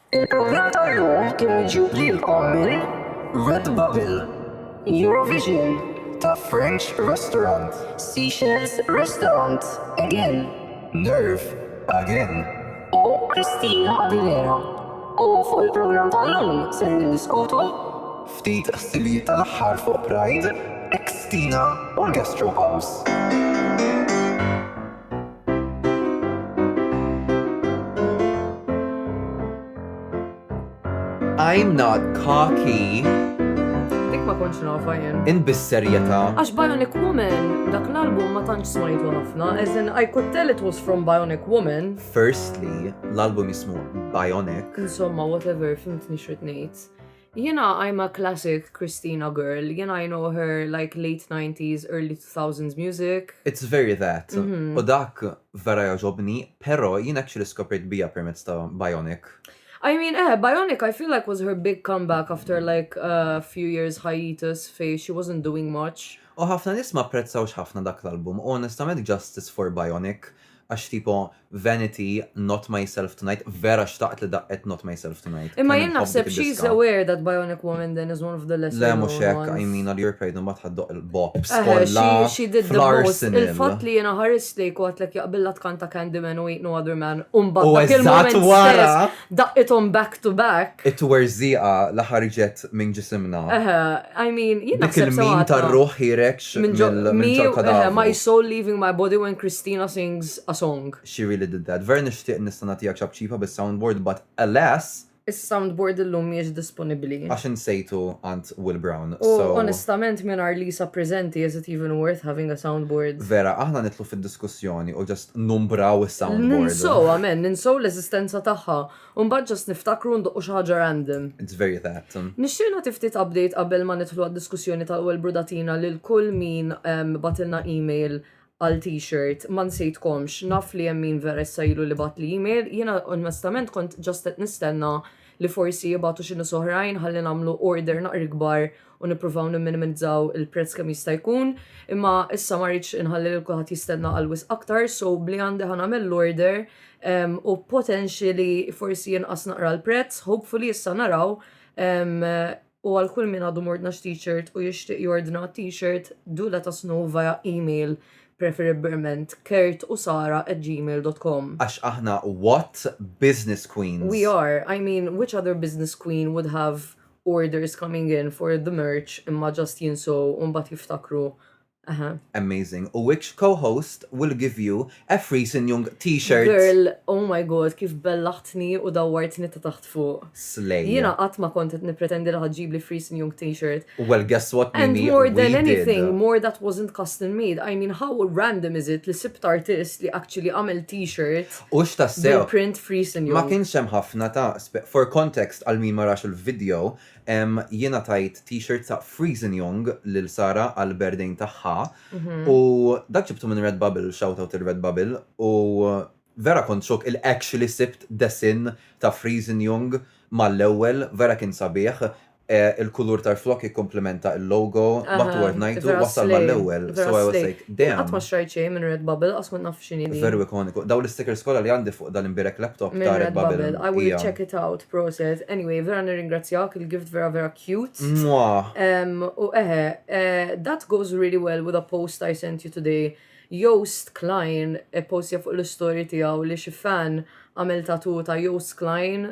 Il-programm tal-lum kien iġib lilkom minn Red Bubble, Eurovision ta' French Restaurant, Seychelles Restaurant, Again, Nerve, Again, u Christina Aguilera. U fuq il-programm tal-lum ser niddiskutu ftit ħsibijiet tal-aħħar fuq Pride, Xtina u l-Gastropubs. I'm not cocky. Dik ma konċ nafa jen. In bis-serjeta. Għax Bionic Woman, dak l-album ma tantx smajtu ħafna, as in I could tell it was from Bionic Woman. Firstly, l-album jismu Bionic. Insomma, whatever, fimtni xrit ngħid. Jiena I'm a classic Christina girl, jiena I know her like late 90s, early 2000s music. It's very that. Mhm. U dak vera joġobni, pero jien actually skopriet bija permezz ta' Bionic. I mean, eh, Bionic I feel like was her big comeback after like a few years hiatus fej she wasn't doing much. U ħafna nies ma apprezzawx ħafna dak l-album u onestament justice for Bionic. għax tipo Vanity, Not Myself Tonight, vera xtaqt li daqqet Not Myself Tonight. Imma jien naħseb she's aware that Bionic Woman then is one of the lesser Le mhux hekk, I mean All Your Pride imbagħad ħaddoq il-bops kollha. She did the most. Il-fatt li jiena ħarist lejk u għedtlek jaqbilla tkanta Candyman u Ain't No Other Man u mbagħad dak il-mument stess Daqqithom back to back. It-twerżiqa li ħarġet minn ġisimna. Eħe, I mean, jien naħseb sewwa. Dik il-meme tar-ruħ ħiereġ minn ġol kadaver. My soul leaving my body when Christina sings a song. She really did that. Vera nixtieq nista' nagħtiha ċapċipa bis-soundboard but alas! Is-soundboard illum mhijiex disponibbli. Għax insejtu għand Will Brown, so. U onestament mingħajr Lisa preżenti is it even worth having a soundboard? Vera, aħna nidħlu fid-diskussjoni u numbraw is-soundboard. Ninsow, amen, ninsow l-eżistenza tagħha. Mbagħad ġast niftakru ndoqqu xi ħaġa random. It's very that. Nixtieq nagħti ftit update qabel ma nidħlu għad-diskussjoni tal-ewwel brudatina lil kull min ehm, batilna email għal t-shirt, ma nsejtkomx, naf li hemm min vera issa ilu li bat li email, jiena onestament kont ġast qed nistenna li forsi jibatu xi nies oħrajn ħalli nagħmlu order naqri kbar u nippruvaw nimminimizzaw il-prezz kemm jista' jkun, imma issa ma rridx inħalli lil kulħadd jistenna għal wisq aktar, so b'li għandi ħa nagħmel l-order ehm, u potentially li forsi jinqas naqra l-prezz, hopefully issa naraw ehm, u għal kull min għadu mordna t-shirt u jixtieq jordna t-shirt do let us know via email preferibbilment kert u sara at gmail.com. Għax aħna what business queens? We are, I mean, which other business queen would have orders coming in for the merch imma just jinsow u mbagħad jiftakru Aha. Amazing. U which co-host will give you a free Sinjung t-shirt? Girl, oh my god, kif bellaħtni u dawwartni ta' taħt fuq. Slay. Jina qatt ma kont qed nippretendi li ħaġġib li free Sinjung t-shirt. Well, guess what? And Mimi, more than we anything, did. more that wasn't custom made. I mean, how random is it li sibt artist li actually għamel t-shirt? Hux tassew. Bil-print free Sun Young. Ma kienx hemm ħafna ta' For context għal min ma rax il-video, jiena tajt t-shirt ta' Free Sun Young lil Sara għal berdejn tagħha u dak ġibtu minn Redbubble, shout out lil Redbubble, u vera kont xokk il actually sibt desinn ta' Free Sun Young mal-ewwel, vera kien sabiħ, Il-kulur tal-flokk jikkumplimenta il-logo, but word ngħidu wasal mal-ewwel, so I was like, damn. Qatt ma xtrajt xejn minn Redbubble, qatt kont naf x'inhi din. Veru ikoniku. Dawn l-istikers kollha li għandi fuq dan l-imbierek laptop ta' Redbubble. Minn Redbubble, I will check it out, proset. Anyway, vera nirringrazzjak, il-gift vera vera cute. Mwah. U eħe, that goes really well with a post I sent you today Joost Klein ipposja fuq l-istorji tiegħu li xi fan għamel tattoo ta' Joost Klein,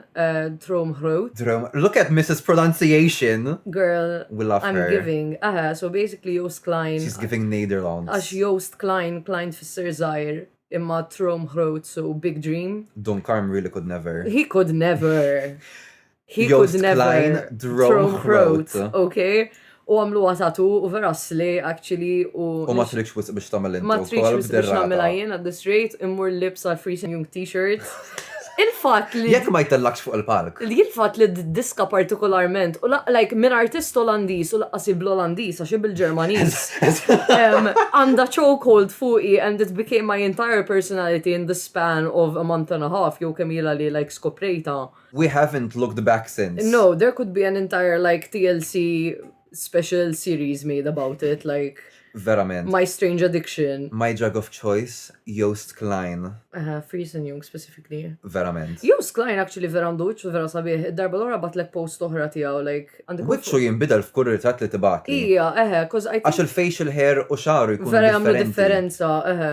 Droomgroot. Droomgroot, look at Mrs Pronunciation! Girl, We love her. I'm giving, eħe, so basically Joost Klein. She's giving Nederlands. Għax Joost Klein, Klein tfisser żgħir, imma Droomgroot, so big dream. Dunkarm really could never. He could never! He Joost could never Klein throw throw Groot. Groot, okay? U għamlu għatatu u vera sli, actually, u... U ma trix wisq biex tagħmel inti Ma triċ wkoll biex b'derrata. namela jien at this rate, immur libs għal Free Young t-shirt. Il-fat li... Jekk ma jtellakx fuq il-palk. li il-fat li d-diska partikolarment, u la- like, minn artist Olandiż u laqqas bl-Olandiż, għax bil-Ġermaniż, em, għanda chokehold fuqi and it became my entire personality in the span of a month and a half, jew kemm jila li like skoprejta. We haven't looked back since. No, there could be an entire like TLC special series made about it like Verament. My Strange Addiction. My Drug of Choice, Joost Klein. Uh, Fries and Young specifically. Verament. Joost Klein actually vera għandu uċċu vera sabiħ, id-darba l-ora batlek post oħra tijaw, like... Uċċu jimbidel f'kull ritratt li tibat. Ija, eħe, cause I think... Għax il-facial hair u xaru jkun. Vera għamlu differenza, eħe.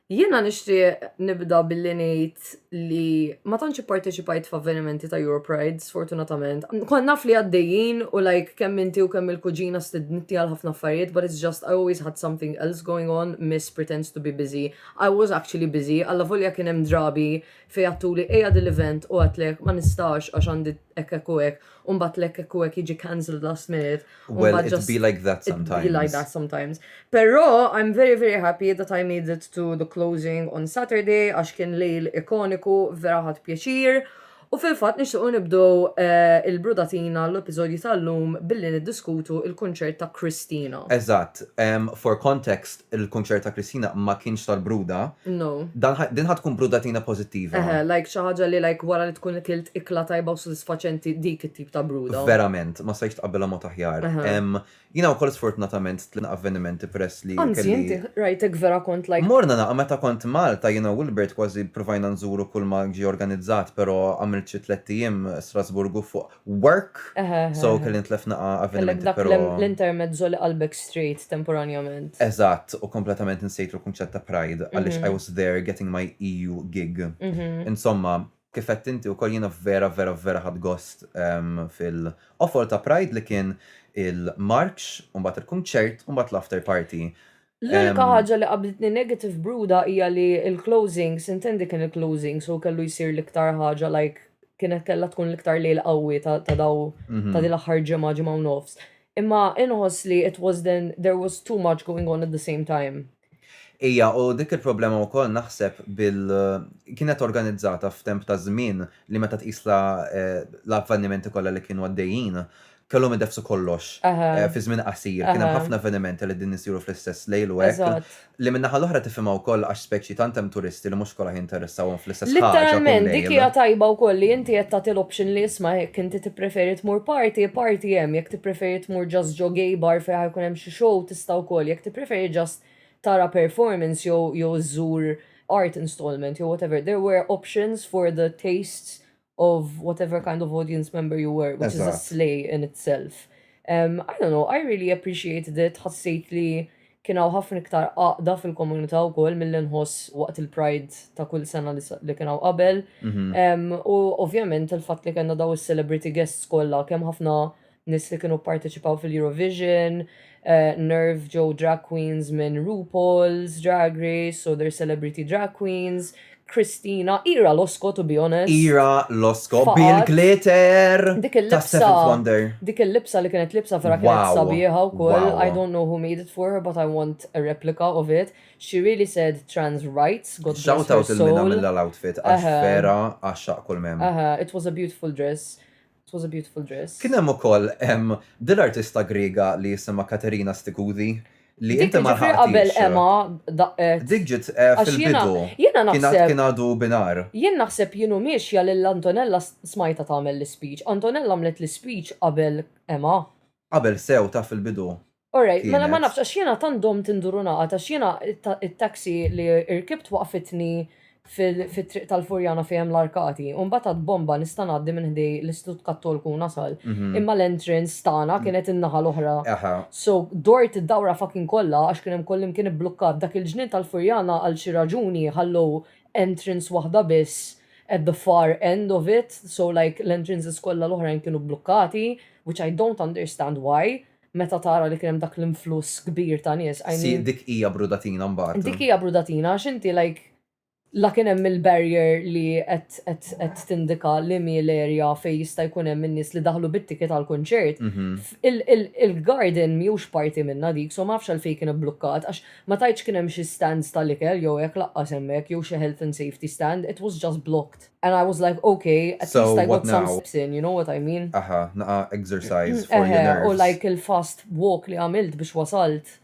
Jiena nixtieq nibda billi ngħid li ma tantx ipparteċipajt f'avvenimenti ta' Europride, sfortunatament. Kont naf li għaddejjin u like kemm inti u kemm il-kuġina stednitni għal ħafna affarijiet but it's just I always had something else going on, miss pretends to be busy, I was actually busy, allavolja kien hemm drabi fejn għedtuli ejja dil-event u għedtlek ma nistax għax għandi hekk hekk u hekk u mbagħad l-hekk hekk u hekk jiġi cancelled last minute. u Well, mbagħad it just- be like that It be like sometimes. that sometimes. Però I'm very very happy that I made it to the closing on Saturday għax kien lejl ikoniku, vera ħadt pjaċir. U fil-fatt nixtiequ nibdew eh, il-brudatina l-episodju tal-lum billi niddiskutu il-kunċert ta' Christina. Eżatt. Em, for context, il-kunċert ta' Christina ma kienx tal-bruda, din ħa tkun brudatina pożittiva. Eħe, like xi ħaġa li like wara li tkun ikilt ikla tajba u sodisfaċenti dik it-tip ta' bruda. Verament, ma stajtx tqabbilha mod aħjar. Jiena wkoll sfortunatament tliet avvenimenti peress li. Anzi, inti rajtek vera kont like. Morna naqgħa meta kont Malta jiena u Wilbert kważi ppruvajna nżuru kull ma ġie organizzat però għamilt xi tliet ijiem Strasburgu fuq work. So kelli nitlef naqa' avvenimenti però. L-intermezzo li qalbek straight temporanjament. Eżatt, u kompletament insejt il-kunċett ta' pride għaliex I was there getting my EU gig. Insomma, kif għedt inti wkoll jiena vera vera vera ħadt gost fil-qofol ta' pride li kien il-marċ u mbagħad il-kunċert u mbagħad l-after party. L-unika ħaġa li qablitni negative b'Ruda hija li l-closing, sintendi kien il-closing, so kellu jsir l-iktar ħaġa like kienet kellha tkun l-iktar lejl qawwi ta' daw mhm. ta' din l-aħħar ġimgħa ġimgħa u nofs. Imma inħoss li it was then there was too much going on at the same time. Ija, u dik il-problema u koll naħseb bil kienet organizzata f'temp ta' żmien li meta tqisla eh, l-avvenimenti kollha li kienu għaddejjin, kellhom idefsu kollox fi żmien qasir. Kien hemm ħafna avvenimenti li qegħdin isiru fl-istess lejl u hekk. Li min-naħa l-oħra tifhimha wkoll għax speċi tant hemm turisti li mhux kollha jinteressawhom fl-istess ħaġa. Litteralment, dik hija tajba wkoll li inti qed tagħti l-option li isma' hekk inti tippreferi tmur party, party hemm, jekk tippreferi tmur just ġo gay bar fejn ħa jkun hemm xi show tista' wkoll, jekk tippreferi just tara performance jew żżur art installment jew whatever, there were options for the tastes of whatever kind of audience member you were, which is a slay in itself. Um, I don't know, I really appreciated it, ħassejt li kienaw ħafna iktar għaqda fil-komunità u kol mill-inħoss waqt il-Pride ta' kull sena li kienaw qabel. Mhm. U ovvjament il-fat li kena daw il-celebrity guests kolla kem ħafna nies li kienu pparteċipaw fil-Eurovision, eh, Nerve ġew drag queens minn RuPaul's Drag Race, so they're celebrity drag queens, Christina, Ira Losko to be honest. Ira Losko, Bill Glitter, dik il-libsa, dik il-libsa li kienet libsa vera kienet sabiħa u koll, I don't know who made it for her, but I want a replica of it. She really said trans rights, God Shout out il-mina mill-outfit, għax vera għaxxaq kull mem. It was a beautiful dress. It was a beautiful dress. Kien hemm ukoll hemm din artista Griega li jisimha Katerina Stikudi li inti ma ħaddix. Qabel Emma daqqet. Dik ġiet eh, fil-bidu. Jiena naħseb. Kien għadu binar. Jien naħseb jienu miexja lil Antonella smajta tagħmel l-speech. Antonella għamlet l-speech qabel Emma. Qabel sew ta' fil-bidu. Alright, mela ma nafx, għax jena tandom tinduru naqa, għax jena il-taxi li irkibt waqfitni fil-triq tal-Furjana fejem l-arkati, un batat bomba nista' ngħaddi minn ħdej l-Istut Kattolku nasal, mhm. imma l-entrance tagħna mm. kienet in-naħa l-oħra. So dort id-dawra fucking kollha għax kien hemm kollim kien ibblukkat dak il-ġnien tal-Furjana għal xi raġuni ħallu entrance waħda biss at the far end of it, so like l-entrances kollha l-oħrajn kienu blukkati, which I don't understand why. meta tara li kien hemm dak l-influss kbir ta' nies, I Si, mean, dik hija brudatina mbagħad. dik hija brudatina għax inti like la kien hemm il-barrier li qed qed qed tindika li mhi l-area fejn jista' jkun hemm in-nies li daħlu bit-ticket għall-kunċert, Mhm. il il il-garden mhijiex parti minnha dik so ma nafx għalfejn kien ibblukkat għax ma tgħidx kien hemm xi stands tal-ikel jew hekk laqqas hemmhekk jew xi health and safety stand, it was just blocked. And I was like, okay, at so least I got some steps in, you know what I mean? Aha, naqa exercise mm, for your nerves. U like il-fast walk li għamilt biex wasalt.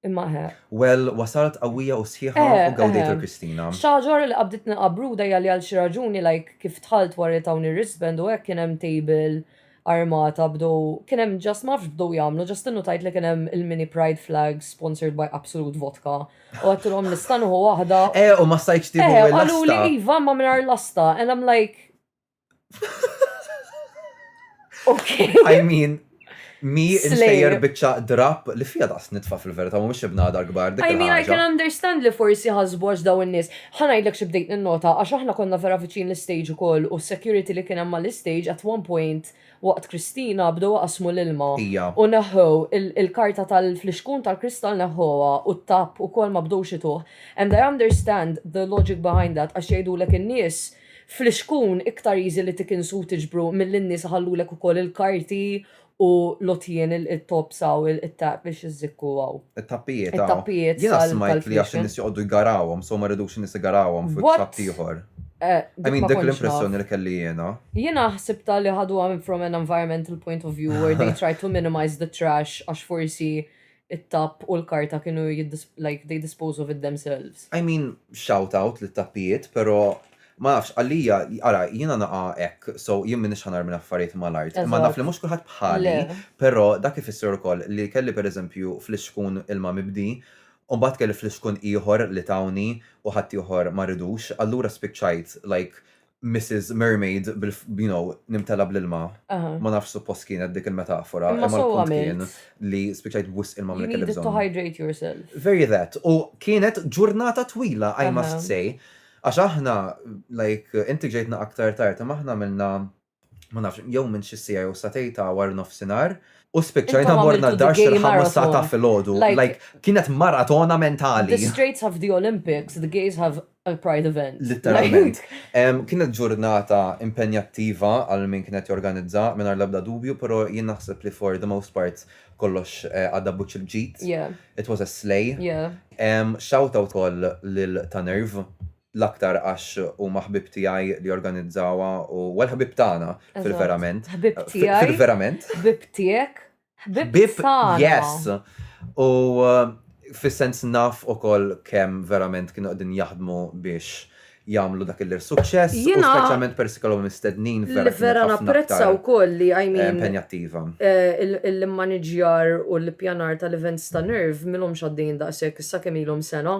Imma ħe. Well, wasalt qawwija u sħiħa u gawdejt il-Kristina. Xaġar li qabditni qabru dajja li għal xi raġuni like kif tħalt warri tawni wristband u hekk kien hemm table armata bdew kien hemm just ma nafx bdew jagħmlu just innutajt li kien hemm il-mini pride flag sponsored by Absolute Vodka u għattilhom nista' nieħu waħda. Eh u ma stajtx tieħu eh, l-lasta. Qalu li iva ma mingħajr lasta and I'm like Okay. I mean, mi insejjer bieċa drap li fija daqs nitfa fil-verita, mu mux ibna dar gbar. I mean, I can understand li forsi ħazboġ daw n-nis. Ħa ngħidlek xi bdejt ninnota għax aħna konna vera viċin l-istage ukoll u s-security li kien hemm mal-istage at one point waqt Christina bdew iqassmu l-ilma Ija. u neħħew il-karta tal-flixkun tal-kristall neħħuha u t-tapp ukoll ma bdewx ituh and I understand the logic behind that għax jgħidulek in-nies flixkun iktar easy li tikinsu u tiġbru milli n-nies iħallulek ukoll il-karti u l-għotjien, il-tops hawn, it-tap biex iżżikku hawn. It-tappijiet hawn. It-tappijiet tal-kitchen. Jiena smajt li għax in-nies joqogħdu jgarawhom, so ma jridux in-nies igarawhom fuq it-tapp ieħor. I mean, dik l-impressjoni li kelli jiena. Jiena ħsibtha li ħaduha from an environmental point of view where they tried to minimize the trash għax forsi it-tapp u l-karta kienu like they dispose of it themselves. I mean, shout out lit-tappijiet, pero ma nafx, għalija, ara, jiena naqa' hekk, so jien m'iniex ħa narmi l-affarijiet mal-art. Imma naf li mhux kulħadd bħali, pero dak ifisser ukoll li kelli pereżempju flixkun ilma mibdi, u mbagħad kelli flixkun ieħor li tawni u ħaddieħor ma ridux, allura spiċċajt like Mrs. Mermaid, you know, nimtela bl-ilma. Ma nafx suppost kienet dik il-metafora. Ma sewwa kien li spiċajt b'wisq ilma minn kelli bżonn. To hydrate yourself. Very that. U kienet ġurnata twila, I must say. Għax aħna, like, inti ġejtna aktar tard, imma aħna minna ma nafx, jew minn xi siegħa jew satej ta' war nofsinhar, u spiċċajna morna d-dar xi l-ħames sa ta' filgħodu. Like, kienet maratona mentali. The Straits have the Olympics, the gays have a pride event. Literalment. Kienet ġurnata impenjattiva għal min kien qed jorganizza, mingħajr l-ebda dubju, però jien naħseb li for the most part kollox għadda b'wiċċ il-ġid. It was a slay. Shout out ukoll lil Ta' Nerv. l-aktar għax huma ħbieb tiegħi li organizzawha u well ħbieb tagħna fil-verament. Ħbieb tiegħi. Fil-verament. Ħbieb tiegħek. Ħbieb tagħna. Yes. U fis-sens naf ukoll kemm verament kienu qegħdin jaħdmu biex jagħmlu dak il-suċċess, u speċjalment persi kellhom mistednin vera. Vera napprezza wkoll li għajmin. Eh, impenjattiva. Eh, il-manager u l-pjanar tal-events ta' nerv milhom xaddin daqshekk issa kemm ilhom sena.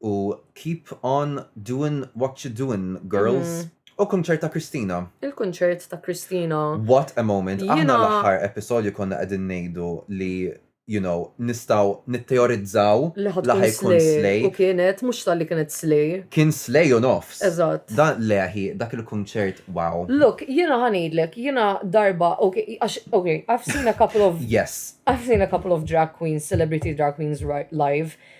u keep on doin' what you doin' girls. U kunċert ta' Christina. Il-kunċert ta' Christina. What a moment. Aħna Jiena- l-aħħar episodju konna qegħdin ngħidu li you know nistgħu nitteorizzaw Li ħa li ħa tkun jkun slay. slay. U kienet, mhux talli kienet slay. Kien slay u nofs. Eżatt. Da le hi dak il-kunċert wow. Look, jiena ħa ngħidlek, jiena darba, ok, għax, ok, I've seen a couple of, Yes. I've seen a couple of drag queens, celebrity drag queens ri- live.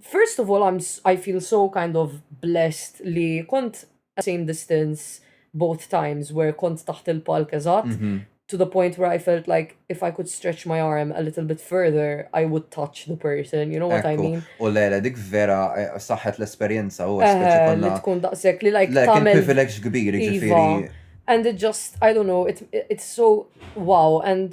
First of all I'm I feel so kind of blessed li kont at same distance both times where kont taħt il-palk eżatt mm -hmm. to the point where I felt like if I could stretch my arm a little bit further I would touch the person, you know what Ekku. I mean? U lele dik vera eh, saħħet l-esperjenza u eh, li tkun daqshekk li like tagħmel privileġġ kbir iva. ġifieri. And it just I don't know, it, it's so wow and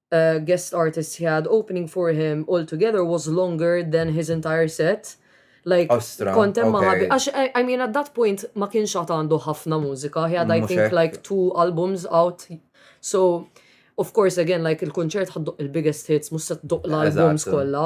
guest artists he had opening for him all together was longer than his entire set. Like, Ostra, kont hemm ma' okay. ħabi. Għax, I I mean, at that point ma kienx għad għandu ħafna mużika. He had, I Mhux think, hekk. like two albums out. So, of course, again, like il-kunċert ħadduq il-biggest hits, mhux se tduq l-albums Eżatt. kollha.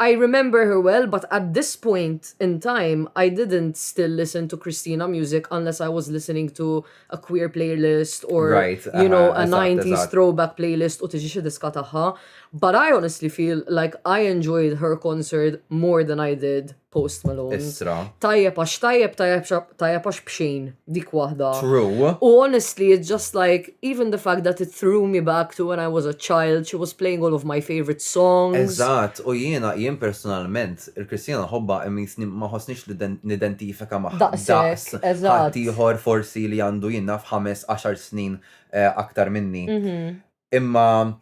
I remember her well but at this point in time I didn't still listen to Christina music unless I was listening to a queer playlist or right, you know a 90s throwback playlist u tiġi xi diska tagħha. But I honestly feel like I enjoyed her concert more than I did Post Malone. Isra. Tajjeb għax tajjeb tajjeb għax bxejn dik waħda. True. U honestly it's just like Even the fact that it threw me back to when I was a child, she was playing all of my favourite songs. Eżatt, u jiena, jien personalment, il-Christina nħobbha imma jisni ma ħossnix li nidentifika magħha daqs ħaddieħor forsi li għandu jien naf ħames, għaxar snin aktar minni. Imma.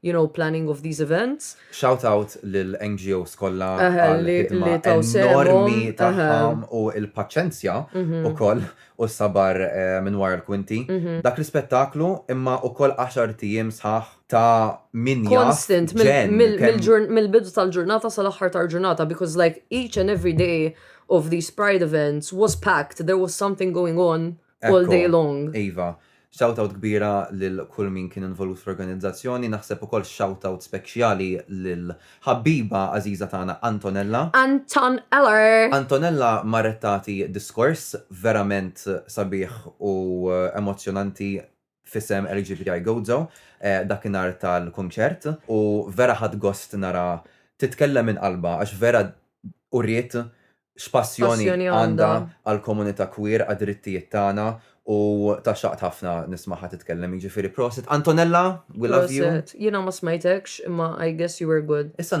you know, planning of these events. Shout out lil NGOs kollha għal-ħidma enormi tagħhom u l-paċenzja mhm. ukoll u s-sabar eh, minn wara l-kwinti. Mhm. Dak l-ispettaklu imma ukoll 10 tiem sħaħ ta' min Constant, mill-bidu tal-ġurnata sal-aħħar tal-ġurnata, because like each and every day of these pride events was packed, there was something going on. all day long. Iva, shout out kbira lil kull min kien involut fl-organizzazzjoni, naħseb ukoll shout out spekjali lil ħabbiba għażiża tagħna Antonella. Anton Eller! Antonella marret tagħti diskors verament sabiħ u emozzjonanti f'isem LGBTI Gozo dakinhar tal-kunċert u vera ħadt gost nara titkellem minn qalbha għax vera uriet x'passjoni għandha għall-komunità queer, għad-drittijiet tagħna u tgħaxxaqt ħafna nismagħha titkellem jiġifieri prosit Antonella we love you. Prosit. Jiena ma smajtekx imma I guess you were good. Issa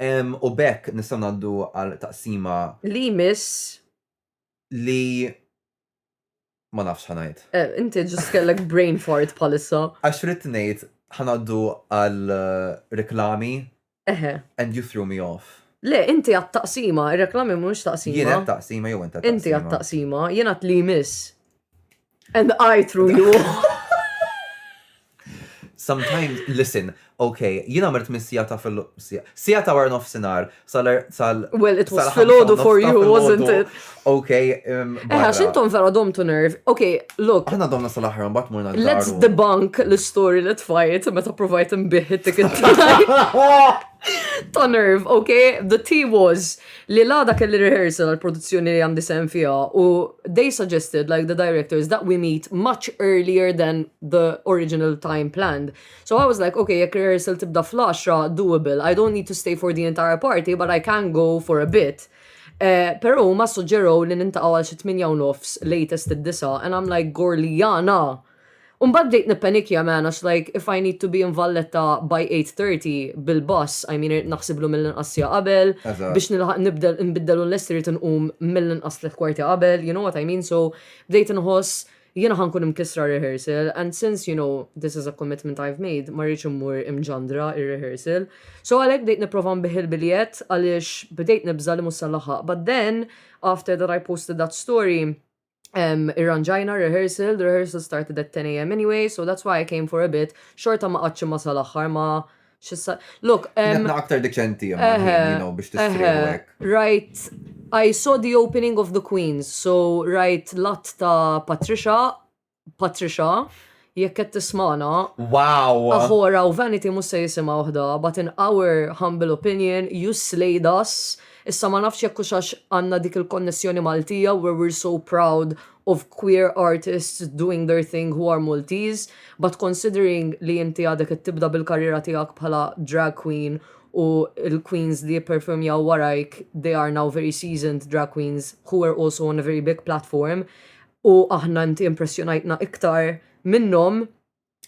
U b'hekk nistgħu ngħaddu għal taqsima. Li jmiss. Li ma nafx xa ngħid. Inti ġust kellek brain fart bħalissa. Għax ridt ngħid ħa ngħaddu għal reklami. Eħe. And you threw me off. Le, inti għat taqsima, ir-reklami mhux taqsima. Jien għat taqsima jew inti għat taqsima. Inti għat taqsima, jien għat li jmiss. And I threw you Sometimes, listen, okay, jina għamilt mis sija ta' fil sija ta' war nofsinar, sal sal. Well, it was fil-ħodu for you, wasn't it? Okay. Um, Eħa, xintom vera dom to nerve. Okay, look. Għana domna sal-ħar, mbat murna Let's debunk l-story li tfajt, meta provajt imbih it-ticket ta' nerve, okay? The tea was Li l-għada kelli rehearsal għall-produzzjoni li għandi sehem fiha u they suggested like the directors that we meet much earlier than the original time planned. So I was like, ok, jekk rehearsal tibda fl-10, doable, I don't need to stay for the entire party but I can go for a bit. Eh, pero huma suġġerow li nintaqgħu għal xi tminja u nofs latest id-disa' and I'm like, gorli jana! U mbagħad bdejt nippenikja man għax like if I need to be in Valletta by 8:30 bil-bus, I mean irid naħsiblu mill-inqas siegħa qabel, biex nilħaq nibdel inbiddel u nlesti rrid inqum mill-inqas tliet kwarti qabel, you know what I mean, so bdejt inħoss jiena ħa nkun imkissra rehearsal and since you know this is a commitment I've made ma rridx immur imġandra ir-rehearsal. So għalhekk bdejt nipprova nbigħ il-biljett għaliex bdejt nibża' li mhux se nlaħħaq but then after that I posted that story Um, irranġajna rehearsal, the rehearsal started at 10 a.m. anyway, so that's why I came for a bit. Xorta ma qatx ma sal-axħar ma xissa. Look, um, aktar deċenti biex tistrihek. Right, I saw the opening of the Queens, so right, lat ta' Patricia, Patricia, jekk qed tismagħna, Wow! Aħora u Vanity mhux se jisimgħu ħda, but in our humble opinion, you slayed us. Issa ma nafx jekk hux għax għandna dik il-konnessjoni Maltija where we're so proud of queer artists doing their thing who are Maltese, but considering li inti għadek qed tibda bil-karriera tiegħek bħala drag queen u l-queens li jipperfurmjaw warajk they are now very seasoned drag queens who were also on a very big platform, u aħna inti impressjonajtna iktar minnhom,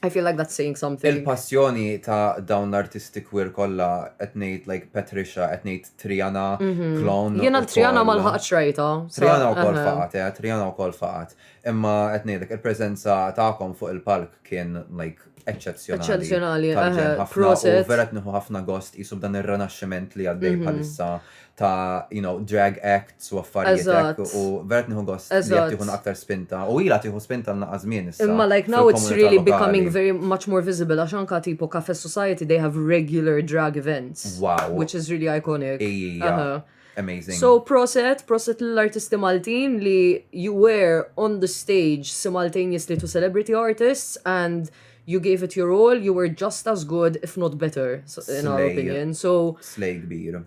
I feel like that's saying something. Il-passjoni ta' dawn l-artisti queer kollha qed ngħid like Patricia, qed ngħid Triana, Clone. Jiena l-Triana ma lħaqtx rajta. Triana wkoll faqgħet, eh, Triana wkoll faqgħet. Imma qed ngħidlek il-preżenza tagħkom fuq il-palk kien like eċċezzjonali ħafna u vera tniħu ħafna gost jisu b'dan ir-renaxximent li għaddej mhm. bħalissa ta' you know, drag acts u affarijiet u vera tniħu gost li qed tieħu aktar spinta u ila tieħu spinta naqa' żmien issa. Imma like now it's really becoming very much more visible għax anka tipo Cafe Society they have regular drag events. Wow. Which is really iconic. Ija. Amazing. So proset, proset l-artisti Maltin li you were on the stage simultaneously to celebrity artists and you gave it your all, you were just as good, if not better, in our opinion. So. Slay kbir.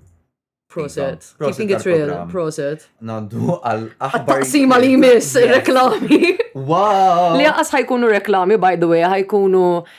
Proset. Keeping it real, proset. Naddu għal aħbar. Sima li jmiss reklami. Wow! Li għas ħajkunu reklami, by the way, ħajkunu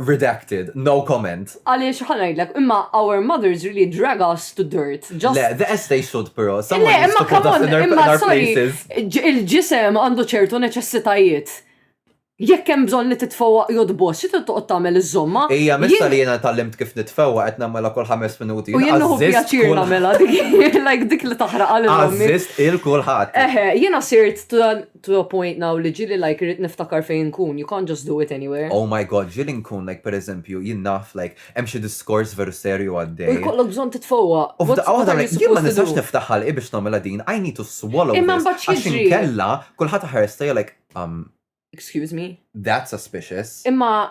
Redacted, no comment. Għaliex ħa ngħidlek, imma our mothers really drag us to dirt. Just Le, the as they should però. Le, Someone needs imma to put come us on, in our, in imma our sorry, places. ġ- il-ġisem għandu ċertu neċessitajiet. Jekk hemm bżonn li titfewwa jodbos, xi toqgħod tagħmel iż-żomma? Ija, mista Jien- li jena tal-limt kif nitfewa qed namela kol ħames minuti. U jien nuħu pjaċir nagħmela dik like dik li taħraq għal ommi. Għazzist il-kulħat. Eħe, jiena sirt ta' Throw point now li ġieli like irrid niftakar fejn inkun, you can't just do it anywhere. Oh my God, ġieli nkun like per eżempju, jien naf like hemm xi diskors veru serju U għaddej. jkollok bżonn titfowwaq. U f'daqqa What waħda are you like jien ma supposed to nistax do? niftaħ ħalqi biex nagħmilha din, I need to swallow Imma this mbagħad għax x'jiġri? inkella kulħadd iħares lejja like, umm, Excuse me? that's suspicious. Imma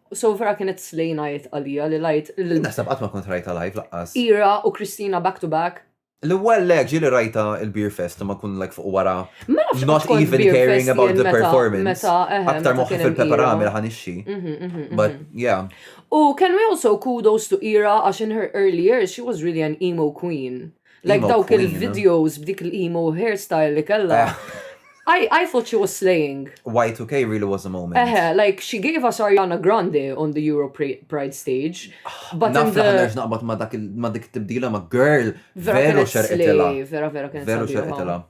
U so vera kienet slay night għalija li rajt. Jien naħseb qatt ma kont rajta live laqqas. Ira u Christina back to back. L-ewwel le ġieli rajta il-Beer Fest imma nkun like fuq wara. Ma nafx Not even caring about the performance. Aktar moħħi fil-peperami li ħanixxi. Mhm, mhm, mhm. But yeah. U can we also kudos to Ira għax in her early years she was really an emo queen. Like dawk il-videos b'dik l-emo hairstyle li kella. I, I thought she was slaying. Y2K really was a moment. Eh, like she gave us Ariana Grande on the Euro Pride stage. But Naf the... nerġ naqbad ma dak ma dik tibdila ma girl. Veru xerqitela. Veru vera kien. Veru xerqitela.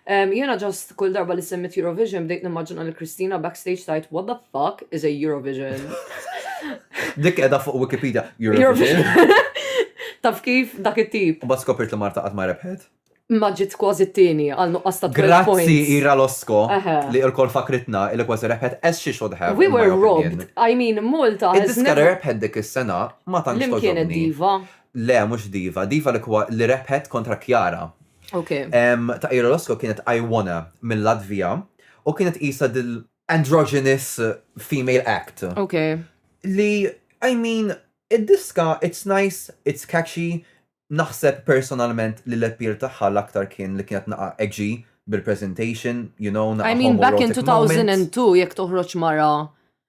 Jiena just kull darba li semmiet Eurovision bdejt nimmaġina lil Christina backstage tgħid what the fuck is a Eurovision. Dik qiegħda fuq Wikipedia. Eurovision. Taf kif dak it-tip. U bas skopirt li Marta qatt ma rebħet. Ma ġiet kważi t-tieni għal nuqqas ta' 12 Grazzi points. Ira Losko Aha. li l-kol fakritna il kważi rebħet as she should have. We in my were opinion. robbed. I mean, Malta has Id-diska li never... rebħet dik is-sena ma tantx Lim kienet toġobni. diva? Le, mhux Diva. Diva li kwa- li rebħet kontra Kjara. Okay. Em, ta' Ira Losko kienet I Wanna mill-Latvija u kienet isa dil androgynous female act Okay. li, I mean, id-diska, it's nice, it's catchy, naħseb personalment li l-appeal tagħha l-aktar kien li kienet naqa' edgy bil-presentation, you know, naqa' I mean, back in homoerotic moment. 2002, jekk toħroġ mara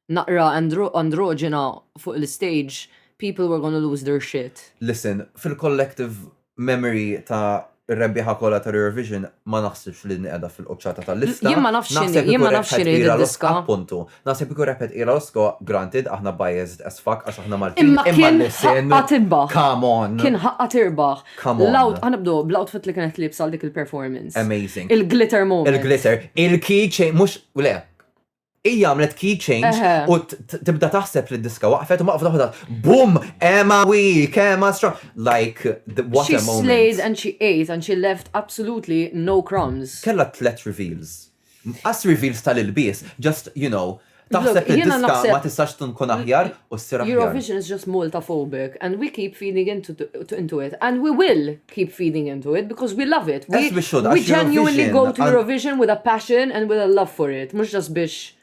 naqra androġena fuq l-istage, people were gonna lose their shit. Listen, fil-collective memory ta' r-rebbieħa kollha tal-Eurovision, ma naħsibx li din qiegħda fil-quċċata tal-lista. Jien ma nafx x'inhi, jien ma nafx x'inhi din id-diska. Appuntu. Naħseb ikun rebħet Ira Losco, granted, aħna biased as fuck għax aħna Maltin. Imma kien ħaqqa tirbaħ. Come on. Kien ħaqqa tirbaħ. Come on. L-out, ħa nibdew bl-outfit li kienet liebsa għal dik il-performance. Amazing. Il-glitter moment. Il-glitter. Il-key chain, mhux, le, Hija għamlet key change u tibda taħseb li d-diska waqfet u maqfda ħodat. Boom! Emma weak, Emma strong. Like, what a moment. She slays and she ate and she left absolutely no crumbs. Kella tlet reveals. As reveals tal-ilbies, just, you know, taħseb li diska ma tistax tkun aħjar u s-sira. Eurovision is just Malta phobic and we keep feeding into it and we will keep feeding into it because we love it. We, we genuinely go to Eurovision with a passion and with a love for it. Mux just biex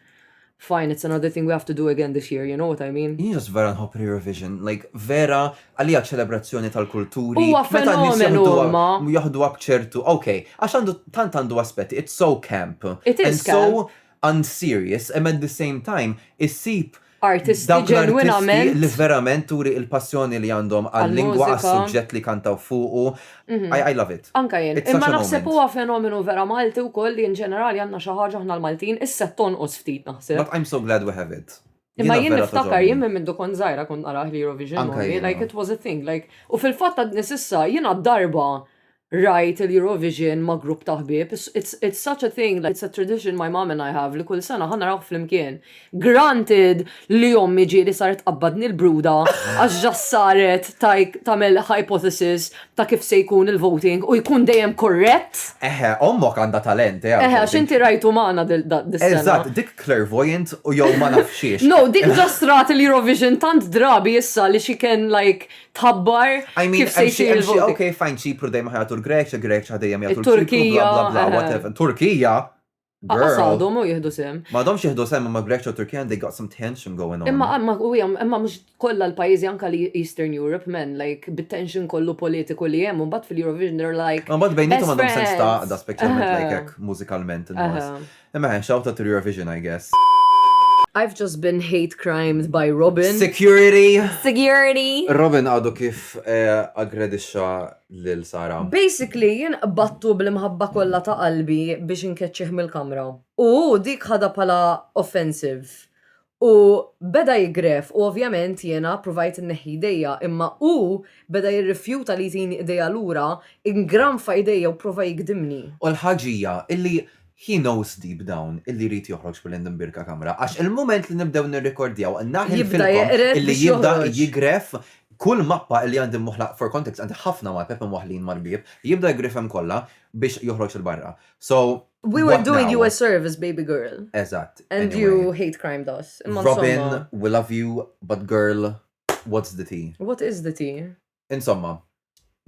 fine, it's another thing we have to do again this year, you know what I mean? Jien just vera nħobb Eurovision, like vera għalija ċelebrazzjoni tal-kulturi. Huwa fenomenu ma. Jahdu għab ċertu, ok, għax għandu tant għandu aspetti, it's so camp. It is camp. So, unserious and at the same time issib dawk l-artisti li verament turi il-passjoni li għandhom għal-lingwa għas-suġġett li jkantaw fuqu. I love it. Anke jien. Imma naħseb huwa fenomenu vera Malti wkoll li in ġenerali għandna xi ħaġa aħna l-Maltin, issa qed tonqos ftit naħseb. But I'm so glad we have it. Imma jien niftakar jien minn mindu kont żgħira kont narah l-Eurovision only, like it was a thing, like u fil-fatt għadni s'issa jiena darba rajt il-Eurovision ma' grupp ta' ħbieb, it's, it's such a thing, it's a tradition my mom and I have li kull sena ħa narawh flimkien. Granted li ommi ġieli saret tqabbadni l-bruda għax ġa saret tagħmel hypothesis ta' kif se jkun il-voting u jkun dejjem korrett. Eħe, ommok għandha talent, eh. Eħe, għax inti rajtu magħna dis-sena. Eżatt, dik clairvoyant u jew ma nafx xiex. No, dik ġa strat il-Eurovision tant drabi issa li she can like tħabbar kif se jsir il-vot. Ok, fajn ċipru dejjem ħajatu l-Greċja, Greċja dejjem jgħatu l-Turkija, bla bla bla, eh. Turkija, Għasadhom u jihdu sem. Ma domx jihdu sem ma Greċja u Turkija they got some tension going on. Imma imma u imma mhux kollha l-pajjiżi anka li Eastern Europe men like bit-tension kollu politiku li hemm u mbagħad fil-Eurovision they're like. Ma mbagħad bejnietom għandhom sens ta' da speċjalment like hekk mużikalment. Imma eh, xawta to your vision I guess. I've just been hate crimed by Robin. Security! Security! Robin għadu kif eh, aggredixxa lil Sara. Basically, jien qbattu bl-imħabba kollha ta' qalbi biex inkeċċih mill-kamra. U dik ħada pala offensive. U beda jiggref u ovvjament jiena ppruvajt inneħħi jdejja imma hu beda jirrifjuta li jtini idejja lura, ingranfa idejja u pprova jigdimni. U l-ħaġa hija illi he knows deep down illi jrid joħroġ minn għand Mbirka Kamra għax il-mument li nibdew nirrikordjaw naħilfilkom illi jibda jiggref kull mappa illi għandi mwaħħla for context għandi ħafna mapep imwaħħlin mal-bieb, jibda jiggrefhom kollha biex joħroġ 'il barra. So, We were What doing now? you a service, baby girl. Eżatt. And anyway. you hate crime doss. Imma Robin, insomma, we love you, but girl, what's the tea? What is the tea? Insomma,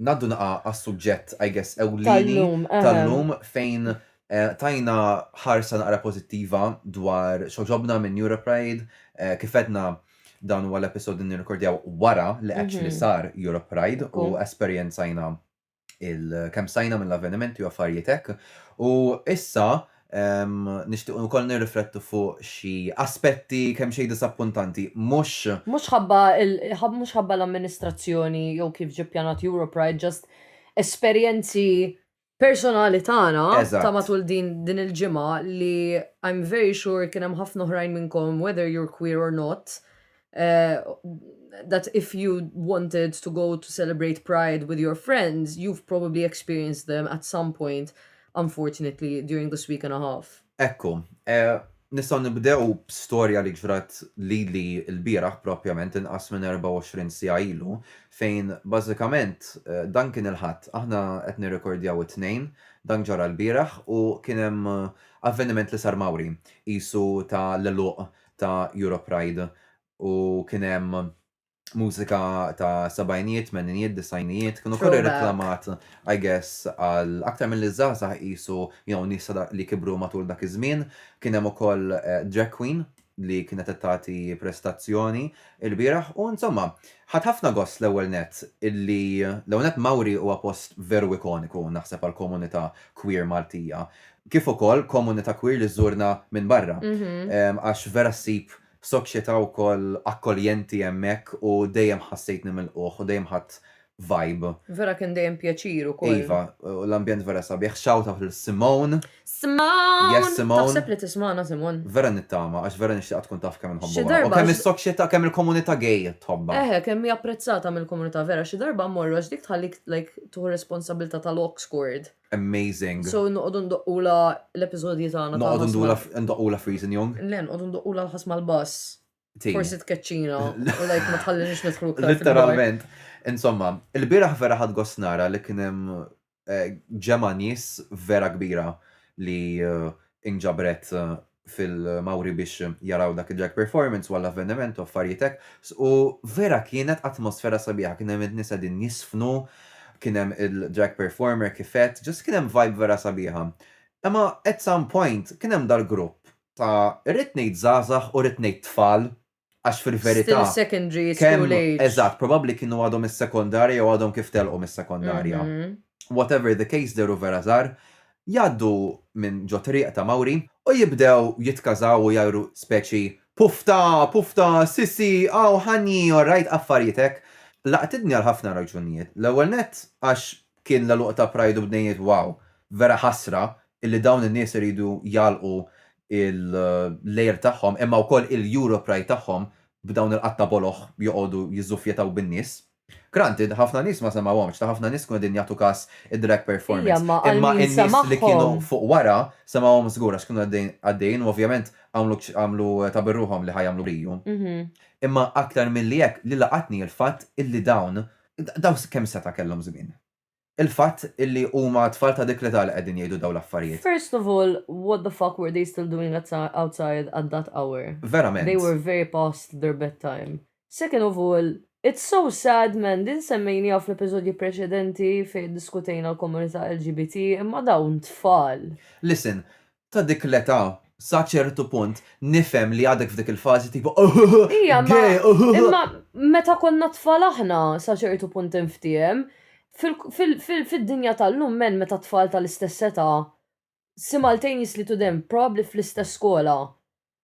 naddu naqa għas-suġġett, I guess, ewlieni Tal-lum. ehem. tal-lum fejn eh, tajna ħarsa naqra pozittiva dwar xoġobna minn Europride. Eh, kif edna dan huwa l-episod li nirrekordjaw wara li actually Mhm. sar Europride u Ekku. esperjenzajna il kemm stajna mill-avvenimenti u affarijiet hekk. U issa um, nixtiequ wkoll nirriflettu fuq xi aspetti kemm xejn disappuntanti, mhux Mhux ħabba mhux ħabba l-amministrazzjoni jew kif ġie pjanat Europride, just esperjenzi personali tagħna ta' matul din din il-ġimgħa li I'm very sure kien hemm ħafna oħrajn minnkom whether you're queer or not uh, that if you wanted to go to celebrate Pride with your friends, you've probably experienced them at some point, unfortunately, during this week and a half. Ekku, eh, nistaw nibdew storja li ġrat li li l-biraħ propjament inqas minn 24 sija ilu, fejn bażikament eh, dan kien il-ħadd, aħna qed nirrekordjaw it-tnejn, dan ġara l-biraħ u kien hemm eh, avveniment li sar Mawri, isu ta' l-eluq ta' Europride u kien hemm mużika ta' sabajnijiet, meninijiet, disajnijiet, kienu kollu reklamat, I guess, għal aktar mill-li żgħażagħ qisu jew nies li kibru matul dak iż-żmien. Kien hemm ukoll eh, drag queen li kienet qed tagħti prestazzjoni il-bieraħ u insomma, ħadd ħafna gost l-ewwel nett illi l-ewwel nett Mawri huwa post veru ikoniku naħseb għall-komunità queer Maltija. kif ukoll komunità queer li żżurna minn barra, għax vera ssib soċjetà wkoll akkoljenti hemmhekk u dejjem ħassejtni milqugħ u dejjem ħadt vibe. Vera kien dejjem pjaċir ukoll. Iva, u l-ambjent vera sabiħ. Shout out lil Simone. Simone! Yes Simone. Taħseb li tismagħna Simone? Vera nittama, għax vera nixtieqha tkun taf kemm inħobbuha. Xi darba. U kemm is-soċjetà, kemm il-komunità gay tħobbha. Eħe, kemm hi apprezzata mill-komunità vera. Xi darba mmorru għax dik tħallik like tieħu responsabbiltà tal-aux cord. Amazing. So noqogħdu ndoqqula l-episodji tagħna. Noqogħdu ndula ndoqqula Freezing Young. Le, noqogħdu ndoqqula l-ħas mal-bass. Forsi tkeċċina u lajk ma tħallinix nidħlu Literalment. Insomma, il-bieraħ vera ħad gosnara li kien hemm eh, ġemgħa nies vera kbira li eh, inġabret eh, fil-Mawri biex jaraw dak id-drag performance u għall-avveniment u affarijiet hekk u vera kienet atmosfera sabiħa, kien hemm in-nies qegħdin jiżfnu, kien hemm il-drag performer kif għedt, just kien hemm vibe vera sabiħa. Imma at some point kien hemm dal-grupp ta' rrid ngħid żgħażagħ u rrid ngħid tfal Għax fil-verità. Still secondary, school age. Eżatt, probabbli kienu għadhom is-sekondarja jew għadhom kif telqu mis-sekondarja. Whatever the case dehru vera żgħar, jgħaddu minn ġo triq ta' Mawri u jibdew jitkażaw u jgħajru speċi pufta, pufta, sisi, aw, ħanji, orrajt, affarijiet hekk. Laqtitni għal ħafna raġunijiet. L-ewwel nett għax Kien l-għeluq ta' Pride u bdejniet wow. Vera ħasra illi dawn in-nies iridu jagħlqu l-għir tagħhom imma wkoll il-Europride tagħhom b'dawn il-qatta boloh joqogħdu jiżżuffjetaw bin-nies. Granted, ħafna nies ma semgħuhomx, ta' ħafna nies kienu qegħdin jagħtu każ id-drag performance, imma in-nies li kienu fuq wara semgħuhom żgur għax kienu għaddejjin u ovvjament għamlu ta' birruħhom li ħa jagħmlu b'riju. Imma aktar milli hekk li laqatni l-fatt illi dawn Dawn kemm setgħa kellhom żmien? Il-fatt illi huma tfal ta' dik l-età li qegħdin jgħidu dawn l-affarijiet. First of all, what the fuck were they still doing outside at that hour? Verament. They were very past their bed time. Second of all, it's so sad man, din semmejnieha fl-episodji preċedenti fejn iddiskutejna l-komunità LGBT, imma dawn tfal! Listen, ta' dik l-età, sa ċertu punt, nifhem li għadek f'dik il-fażi tipo Ija, imma, imma meta konna tfal aħna, sa ċertu punt inftiehem, fid-dinja tal-lum men meta tfal tal-istess età, simultaneously to them, probabbli fl-istess skola,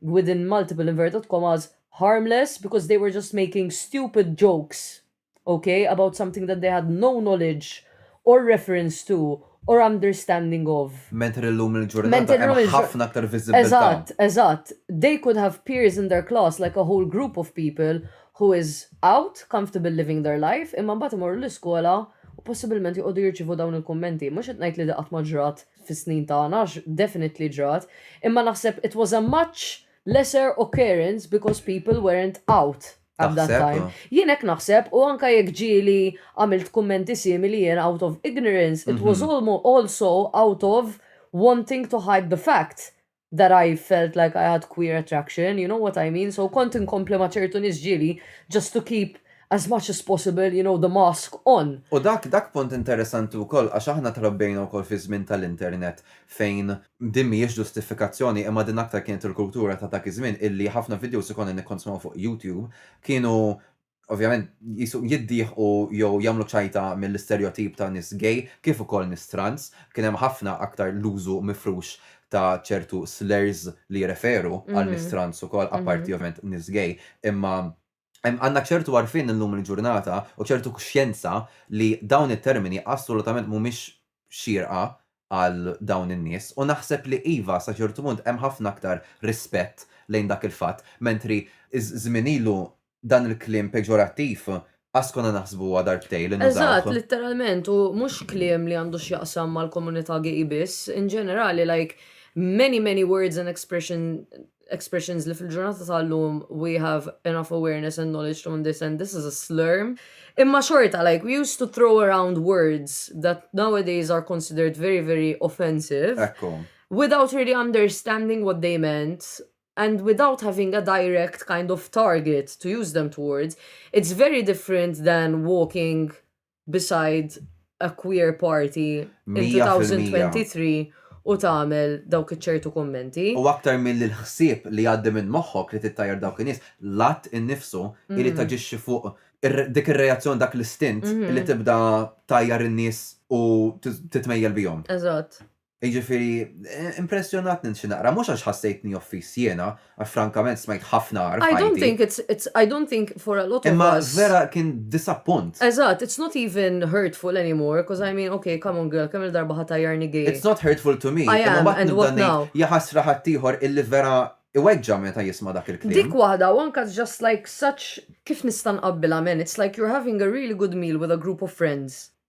within multiple inverted commas, harmless because they were just making stupid jokes, ok, about something that they had no knowledge or reference to or understanding of. Mentri llum il-ġurnata hemm ħafna aktar viżibbiltà. Eżatt, eżatt. They could have peers in their class like a whole group of people who is out, comfortable living their life, imma mbagħad imorru l-iskola u possibilment joqogħdu jirċievu dawn il-kummenti. Mhux qed ngħid li di qatt ma ġrat fis-snin tagħna għax definitely ġrat, imma naħseb it was a much lesser occurrence because people weren't out at that Taħseb, time. oh. Jien hekk naħseb u anke jekk ġieli għamilt kummenti simili jien out of ignorance, it was Mhm. almo- also out of wanting to hide the fact. that I felt like I had queer attraction, you know what I mean, so kont inkompli ma' ċertu nies ġieli just to keep as much as possible, you know, the mask on. U dak, dak punt interessanti wkoll għax aħna trabbejna wkoll fiż-żmien tal-internet fejn din mhijiex ġustifikazzjoni imma din aktar kienet il-kultura ta' dak iż-żmien illi ħafna videos li konna nikkonsmaw fuq YouTube kienu ovvjament jisu jiddieħqu jew jagħmlu ċajta mill-isterjotip ta' nies gay kif ukoll nies trans. Kien hemm ħafna aktar l-użu mifrux ta' ċertu slurs li jirreferu għal nies trans ukoll, apparti ovvjament nies gay. Imma għandna ċertu għarfien illum il-ġurnata u ċertu kuxjenza li dawn it-termini assolutament mhumiex xierqa għal dawn in-nies u naħseb li iva sa ċertu punt hemm ħafna aktar rispett lejn dak il-fatt mentri żmien ilu dan il-kliem peġorattiv qass konna naħsbuha darbtejn li nużawh. Eżatt, litteralment, u mhux kliem li għandu x'jaqsam mal-komunità gay biss, in ġenerali like many many words and expressions li fil-ġurnata tal-lum we have enough awareness and knowledge to understand this is a slur. Imma xorta like we used to throw around words that nowadays are considered very very offensive without really understanding what they meant and without having a direct kind of target to use them towards, it's very different than walking beside a queer party in 2023 u tagħmel dawk iċ-ċertu kummenti. U aktar milli l-ħsieb li jgħaddi minn moħħok li tittajjar dawk in-nies, l-att innifsu irid taġixxi fuq dik ir-reazzjoni dak l-istint li tibda tgħajjar in-nies u titmejjel bihom. Eżatt. Jiġifieri, impressjonatni xi naqra, mhux għax ħassejtni offiż jiena, għax frankament smajt ħafna agħar f'ħajti. I don't think it's, it's, I don't think for a lot of us. Imma vera kien disappunt. Eżatt, it's not even hurtful anymore, 'cause I mean, okay, come on girl, kemm-il darba ħa tgħajjarni gay? It's not hurtful to me, imma mbagħad nibda ngħid, jaħasra ħaddieħor illi vera iweġġa' meta jisma' dak il-kliem. Dik waħda, u anke it's just like such, kif nista' nqabbilha m'en, it's like you're having a really good meal with a group of friends,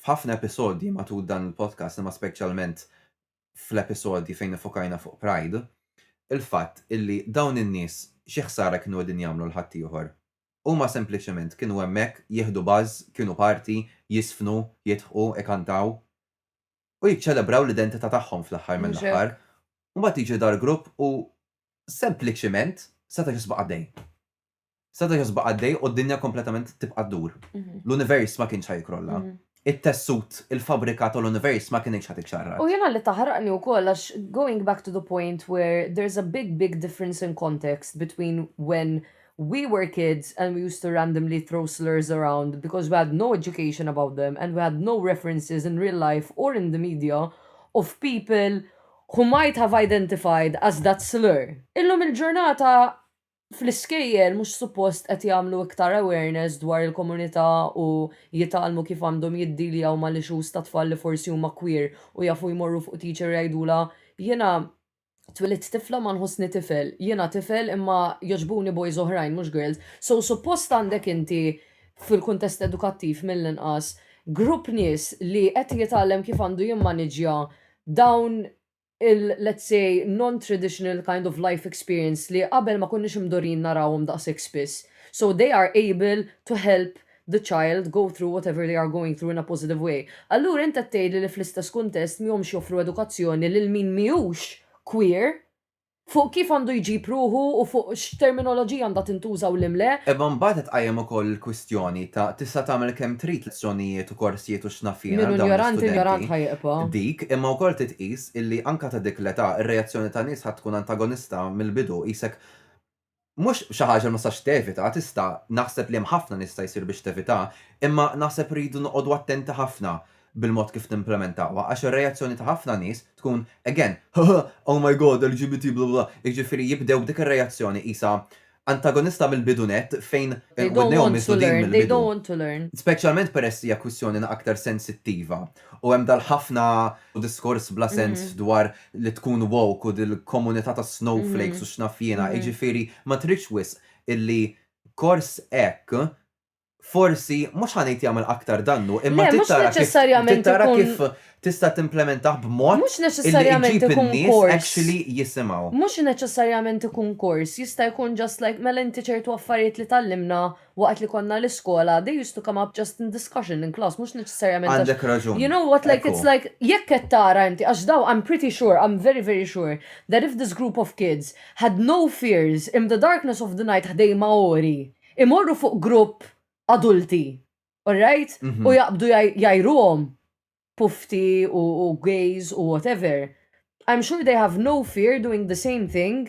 F'ħafna episodji matul dan il-podcast imma speċjalment fl-episodji fejn iffokajna fuq Pride, il-fatt illi dawn in-nies xi ħsara kienu qegħdin jagħmlu 'l ħaddieħor? Huma sempliċement kienu hemmhekk jieħdu buzz, kienu party, jiżfnu, jidħqu, ikantaw u jiċċelebraw l-identità tagħhom fl-aħħar mill-aħħar. U mbagħad jiġi dal-grupp u sempliċement seta' jisbaq għaddej. Seta' josbaq għaddej u d-dinja kompletament tibqa' ddur. L-univers ma kienx ħa jikrolla. It-tessut, il-fabbrika tal-univers ma kinitx ħa tiċċarrat. U jiena li taħraqni wkoll għax going back to the point where there's a big big difference in context between when we were kids and we used to randomly throw slurs around because we had no education about them and we had no references in real life or in the media of people who might have identified as that slur. Illum il-ġurnata fl-iskejjel mhux suppost qed jagħmlu iktar awareness dwar il-komunità u jitgħallmu kif għandhom jiddealjaw mal-issues ta' tfal li forsi huma queer u jafu jmorru fuq teacher jgħidulha jiena twilidt tifla ma nħossni tifel, jiena tifel imma jogħġbuni boys oħrajn mhux girls. So suppost għandek inti fil-kuntest edukattiv mill-inqas grupp nies li qed jitgħallem kif għandu jimmaniġġja dawn il let's say non-traditional kind of life experience li qabel ma konniex imdorrijin narawhom daqshekk spiss. So they are able to help the child go through whatever they are going through in a positive way. Allura int qed tgħidli li fl-istess kuntest m'homx joffru edukazzjoni lil min m'hijux queer? fuq kif għandu jġib ruħu u fuq x'terminoloġija għandha tintuża u limle. Imma mbagħad qed tqajjem ukoll il-kwistjoni ta' tista' tagħmel kemm trid lezzjonijiet u korsijiet u x'naf jiena għal dawn l-istudenti. Dik, imma wkoll titqies illi anke ta' dik l-età, ir-reazzjoni ta' nies ħa tkun antagonista mill-bidu, qisek mhux xi ħaġa li ma tistax tevita, tista', naħseb li hemm ħafna li jista' jsir biex tevitha, imma naħseb rridu noqogħdu attenti ħafna bil-mod kif nimplimentawha għax ir-reazzjoni ta' ħafna nies tkun again haha oh my God LGBT bla bla, jiġifieri jibdew b'dik ir-reazzjoni qisha antagonista mill-bidu nett fejn widnejhom misdudin mill-bidu. Speċjalment peress li hija kwistjoni aktar sensittiva. U hemm dal-ħafna diskors bla sens dwar li tkun woke u dil-komunità tas-snowflakes u x'naf jiena, jiġifieri ma tridx wisq illi kors hekk forsi mhux ħa ngħid jagħmel aktar dannu imma trid tara kif trid tara kif tista' timplimentah b'mod illi iġib in-nies actually jisimgħu. Mhux neċessarjament ikun kors, jista' jkun just like mela inti ċertu affarijiet li tgħallimna Waqt li konna l-iskola, they used to come up just in discussion in class, mhux neċessarjament għax. Għandek raġun. You know what, like, it's like, jekk qed tara inti, għax dawn, I'm pretty sure, I'm very, very sure, that if this group of kids had no fears im the darkness of the night ħdejn Maori, imorru fuq grupp adulti, all right, u jaqbdu jgħajruhom pufti u gays u whatever, I'm sure they have no fear doing the same thing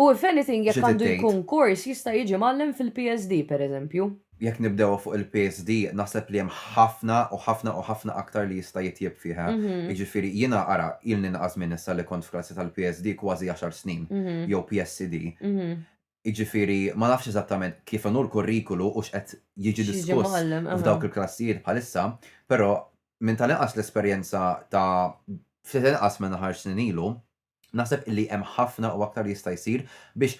U if anything jekk għandu jkun kors jista' jiġi mgħallem fil-PSD pereżempju. Jekk nibdewha fuq il-PSD naħseb li hemm ħafna u ħafna u ħafna aktar li jista' jitjieb fiha. Jiġifieri jiena ara ilni inqas żmien issa li kont f'klassi tal-PSD kważi għaxar snin jew PSCD. Jiġifieri ma nafx eżattament kif inhu l-kurrikulu u x'qed jiġi diskuss f'dawk il-klassijiet bħalissa, però minn tal-inqas l-esperjenza ta' ftit inqas minn għaxar snin ilu, Naħseb illi hemm ħafna u aktar li jista' jsir biex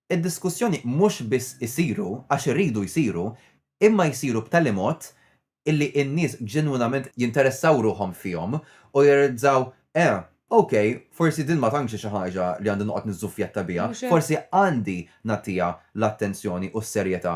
id-diskussjoni mhux biss isiru għax iridu jsiru imma jsiru b'tali mod illi n-nies ġenwinament jinteressaw ruħhom fihom u jirrealizzaw, eh, ok, forsi din ma tantx hi xi ħaġa li għandi noqgħod niżżuffjetta biha, forsi għandi nagħtiha l-attenzjoni u s-serjetà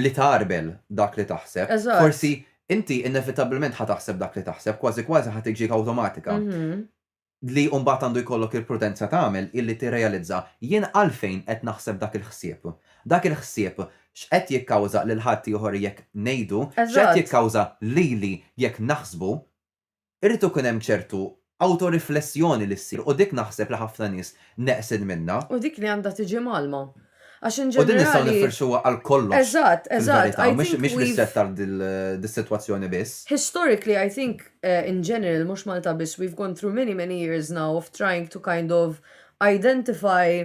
li tgħarbel dak li taħseb. Eżatt. Forsi inti inevitabbilment ħa taħseb dak li taħseb, kważi kważi ħa tiġik awtomatika. Li mbagħad għandu jkollok il-prudenza tagħmel hi li tirrealizza, jien għalfejn qed naħseb dak il-ħsieb? Dak il-ħsieb x'qed jikkawża lil ħaddieħor jekk ngħidu? X'qed jikkawża lili jekk naħsbu? Irid ikun hemm ċertu awtoriflessjoni li ssir u dik naħseb li ħafna nies neqsin minnha. U dik li għandha tiġi mgħallma. Għax in ġenerali. U din nistgħu niffirxuha għal kollox. Eżatt, eżatt. Mhix ristretta għal dis-sitwazzjoni biss. Historically I think in general, mhux Malta biss, we've gone through many many years now of trying to kind of identify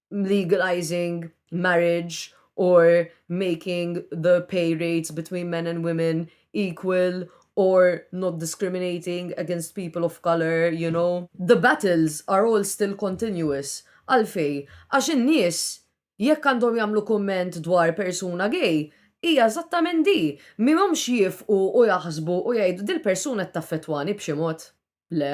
legalizing marriage or making the pay rates between men and women equal or not discriminating against people of colour, you know, the battles are all still continuous. Għalfejn? Għax in-nies jekk għandhom jagħmlu kumment dwar persuna gay, hija eżattament di. M'humx jiefqu u jaħsbu u jgħidu dil-persuna qed taffettwani b'xi mod. Le.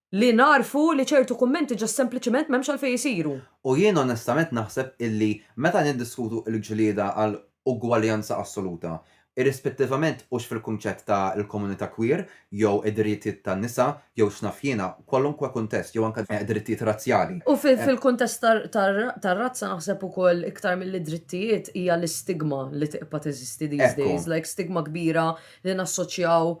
li nagħrfu li ċertu kummenti ġa sempliċement m'hemmx għalfejn isiru. U jien onestament naħseb illi meta niddiskutu l-ġlieda għal ugwaljanza assoluta, irrispettivament hux fil-kunċett ta' l-komunità queer jew id-dirjitjiet tan-nisa jew x'naf jiena, kwalunkwe kuntest, jew anke drittijiet razzjali. U fil-kuntest tar-razza naħseb ukoll iktar milli drittijiet hija l-istigma li tibqa' teżisti these days, like stigma kbira li nassoċjaw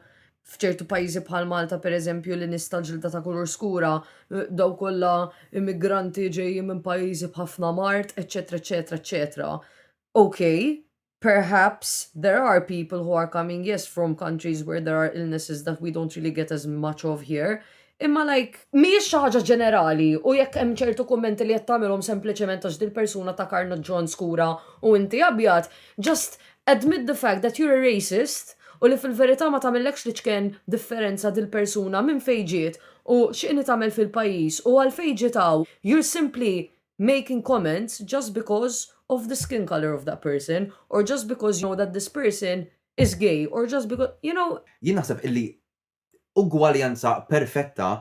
f'ċertu pajjiżi bħal Malta pereżempju li nies tal-ġilda ta' kulur skura dawn kollha immigranti ġejjin minn pajjiżi b'ħafna mard, eċċetera eċċetera eċċetera. Ok, perhaps there are people who are coming yes from countries where there are illnesses that we don't really get as much of here, Imma like, mhijiex xi ħaġa ġenerali u jekk hemm ċertu kummenti li qed tagħmilhom sempliċement għax dil-persuna ta' karna ġon skura u inti abjad, just admit the fact that you're a racist u li fil-verità ma tagħmillekx l-iċken differenza dil-persuna minn fejn ġiet u x'inhi tagħmel fil-pajjiż u għalfejn ġiet hawn, you're simply making comments just because of the skin colour of that person or just because you know that this person is gay or just because, you know. Jien naħseb illi ugwaljanza perfetta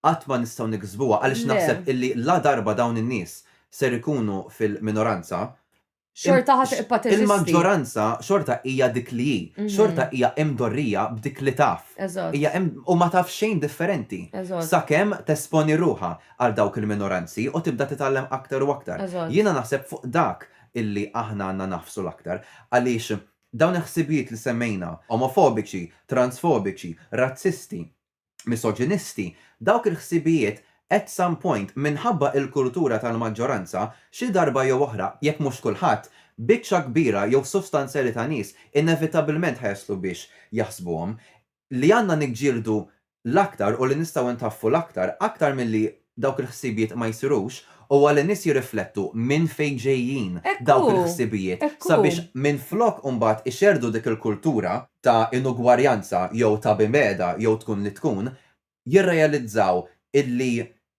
qatt ma nistgħu niksbuha għaliex naħseb illi la darba dawn in-nies ser ikunu fil-minoranza, Xorta ħa tibqa' teżisti. il-maġġoranza xorta hija dik li hi. Xorta hija imdorrija b'dik li taf. Eżatt. Hija im, u ma taf xejn differenti. Eżatt. Sakemm tesponi ruħha għal dawk il-minoranzi u tibda titgħallem aktar u aktar. Eżatt. Jiena naħseb fuq dak illi aħna għandna nagħfsu l-aktar għaliex Dawn il-ħsibijiet li semmejna, omofobiċi, transfobiċi, razzisti, misoġinisti, dawk il-ħsibijiet at some point minħabba il-kultura tal-maġġoranza, xi darba jew oħra, jekk mhux kulħadd, biċċa kbira jew sostanzjali ta' nies inevitabilment ħa jaslu biex jaħsbuhom. li għandna niġġieldu l-aktar u li nistgħu ntaffu l-aktar, aktar milli dawk il-ħsibijiet ma jsirux, huwa li nies jirriflettu minn fejn ġejjin dawk il-ħsibijiet sabiex minflok imbagħad ixerrdu dik il-kultura ta' inugwarjanza jew ta' bimgħeda jew tkun li tkun, jirrealizzaw illi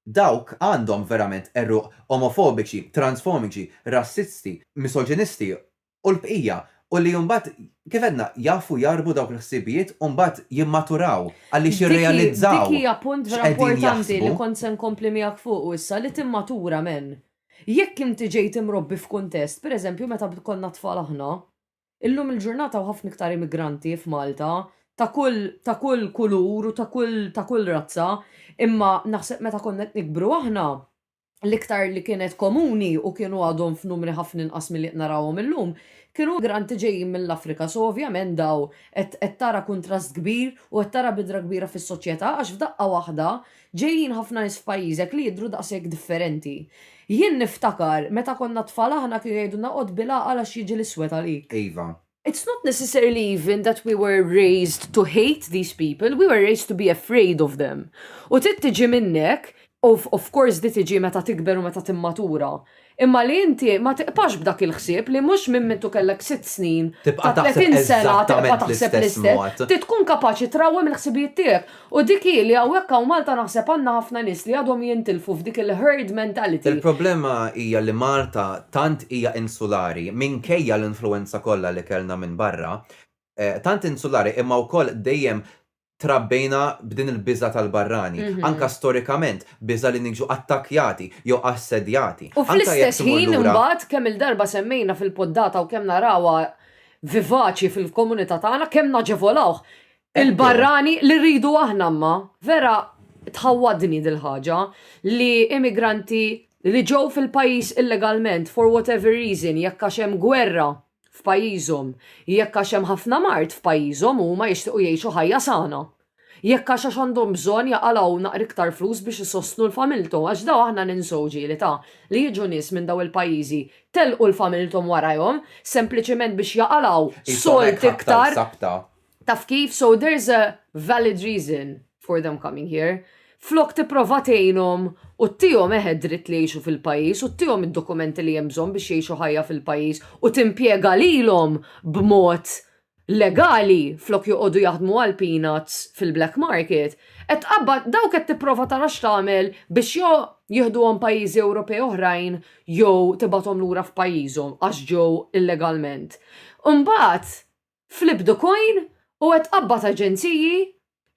dawk għandhom verament għeruq omofobiċi, transfomiċi, rassisti, misoġinisti u l-bqija, u li mbagħad, kif għedna, jgħaffu jgħarrbu dawk il-ħsibijiet u mbagħad jimmaturaw għaliex jirrealizzaw x'qegħdin jaħsbu. Dik hija punt vera importanti li kont se nkompli miegħek fuqu issa, li timmatura, amen. Jekk inti ġejt imrobbi f'kuntest, per eżempju meta konna tfal aħna, illum il-ġurnata hawn ħafna iktar immigranti f'Malta ta' kull ta' kull kulur u ta' kull ta' kull razza, imma naħseb meta konna qed nikbru aħna, l-iktar li kienet komuni u kienu għadhom f'numri ħafna inqas milli qed narawhom illum, kienu migranti ġejjin mill-Afrika. So ovvjament daw qed qed tara kuntrast kbir u qed tara bidra kbira fis-soċjetà għax f'daqqa waħda ġejjin ħafna nies f'pajjiżek li jidhru daqshekk differenti. Jien niftakar meta konna tfal aħna kienu jgħidulna qgħod bil-għaqal għax jiġi l-iswed għalik. Iva, It's not necessarily even that we were raised to hate these people, we were raised to be afraid of them. U trid tiġi minnek, of, of course di tiġi meta tikber u meta timmatura. Imma li inti ma tiqpax b'dak il-ħsieb li mhux minn mintu kellek sitt snin, ta' 30 sena tibqa' taħseb l-istess mod. Trid tkun kapaċi trawwem il-ħsibijiet tiegħek. U dik hi li hawnhekk hawn Malta naħseb għandna ħafna nies li għadhom jintilfu f'dik il-herd mentality. Il-problema hija li Malta tant hija insulari, minkejja l-influwenza kollha li kellna minn barra, tant insulari imma wkoll dejjem trabbejna b'din il-biża' tal-barrani, anke storikament, biża' li niġu attakkjati jew assedjati. U fl-istess ħin imbagħad, kemm il-darba semmejna fil-poddata u kemm narawha vivaċi fil-komunità tagħna, kemm naġevolawh, Il-barrani li rridu aħna imma vera tħawwadni dil-ħaġa li immigranti li ġew fil-pajjiż illegalment for whatever reason jekk għax hemm gwerra f'pajjiżhom, jekk għax hemm ħafna mard f'pajjiżhom u huma jixtiequ jgħixu ħajja sana. Jekk għax għax għandhom bżonn jaqalgħu naqra iktar flus biex isostnu l-familthom għax dawn aħna ninsew ġieli ta' li jiġu nies minn dawn il-pajjiżi telqu l-familthom warajhom sempliċiment biex jaqalgħu sold iktar. Taf kif? So there's a valid reason for them coming here. Flok tipprova tgħinhom u ttihom eħe dritt li jgħixu fil-pajjiż u ttihom id-dokumenti li hemm bżonn biex jgħixu ħajja fil-pajjiż u timpjega lilhom b'mod legali flok joqogħdu jaħdmu għal peanuts fil-black market, qed tqabbad dawk qed tipprova tara x'tagħmel biex jew jieħduhom pajjiżi Ewropej oħrajn jew tibgħathom lura f'pajjiżhom għax ġew illegalment. Imbagħad Flip the coin u qed tqabbad aġenziji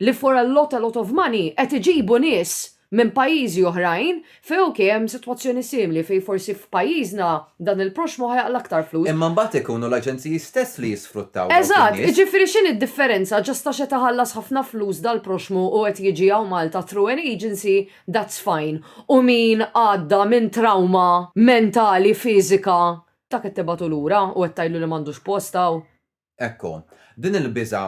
li for a lot a lot of money qed iġibu nies minn pajjiżi oħrajn fejn ok hemm sitwazzjoni simili fejn forsi f'pajjiżna dan il-proxxmu ħa jaqla' aktar flus. Imma mbagħad ikunu l-aġenziji stess li jisfruttaw dawk in-nies. Eżatt, jiġifieri x'inhi d-differenza just għax qed iħallas ħafna flus dal-proxxmu u qed jiġi hawn Malta through an agency that's fine u min għadda minn trawma mentali fiżika Ta' qed tibgħatu lura u qed tgħidlu li m'għandux post hawn. Ekku, din il-biża'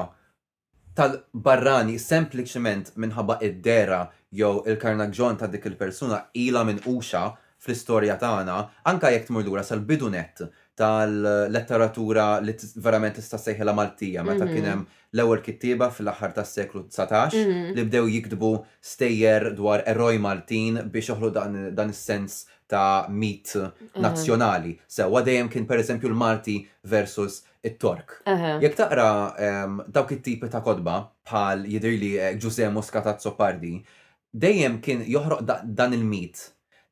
tal-barrani sempliċement minħabba id-dehra jew il-karnaġġjon ta' dik il-persuna ilha minquxa fl-istorja tagħna, anke jekk tmur lura sal-bidu nett tal-letteratura li verament tista' ssejħilha Maltija meta kien hemm l-ewwel kittieba fl-aħħar tas-seklu dsatax li bdew jiktbu stejjer dwar eroj Maltin biex joħloq dan is-sens ta' mit nazzjonali. Sewwa dejjem kien pereżempju l-Malti versus it-Tork. Jekk taqra dawk it-tipi ta' kotba bħal jidhirli Ġużè Muscat Azzopardi, dejjem kien joħroq dan il-mit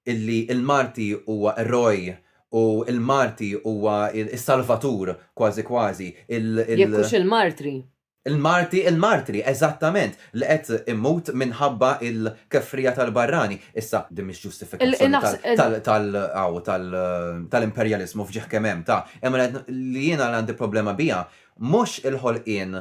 illi l-Malti huwa eroj u l-Malti huwa s-salvatur kważi kważi. Jekk hux il-martri. Il-marti, il-martri, eżattament, li qed imut minħabba l-kefrija tal-barrani. Issa, din mhix ġustifikazzjoni tal-imperjaliżmu f'ġieħ kemm hemm ta', imma li jiena għandi problema biha mhux il-ħolqien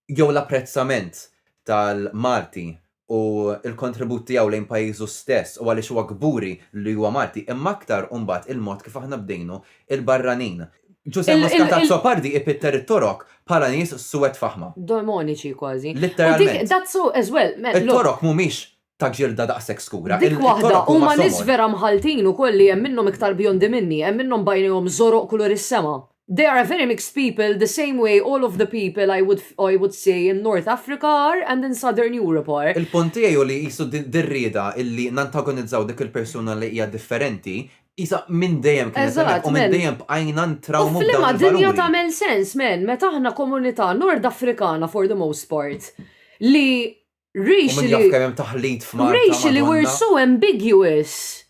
jew l-apprezzament tal-marti u l-kontribut tiegħu lejn pajjiżu stess u għaliex huwa kburi li huwa Malti, imma aktar u mbagħad il-mod kif aħna bdejnu il-barranin. Ġużè Muscat Azzopardi ipitter it-Torok bħala nies suwed faħma. Demoniċi kważi. Litteralment. U that's so as well. It-Torok mhumiex ta' ġilda daqshekk skura. Dik waħda, huma nies vera mħalltin ukoll li hemm minnhom iktar bjondi minni, hemm minnhom bajnejhom żoroq kulur is-sema. They are a very mixed people the same way all of the people I would I would say in North Africa are and in Southern Europe are. Il-punt tiegħi hu li qisu din ir-rieda illi nantagonizzaw dik il-persuna li hija differenti, qisha minn dejjem kienet hemmhekk u minn dejjem bqajna ntrawmu b'dawn il-valuri. U f'liema dinja tagħmel sens, man, meta aħna komunità Nordafrikana for the most part li Racially we're so ambiguous.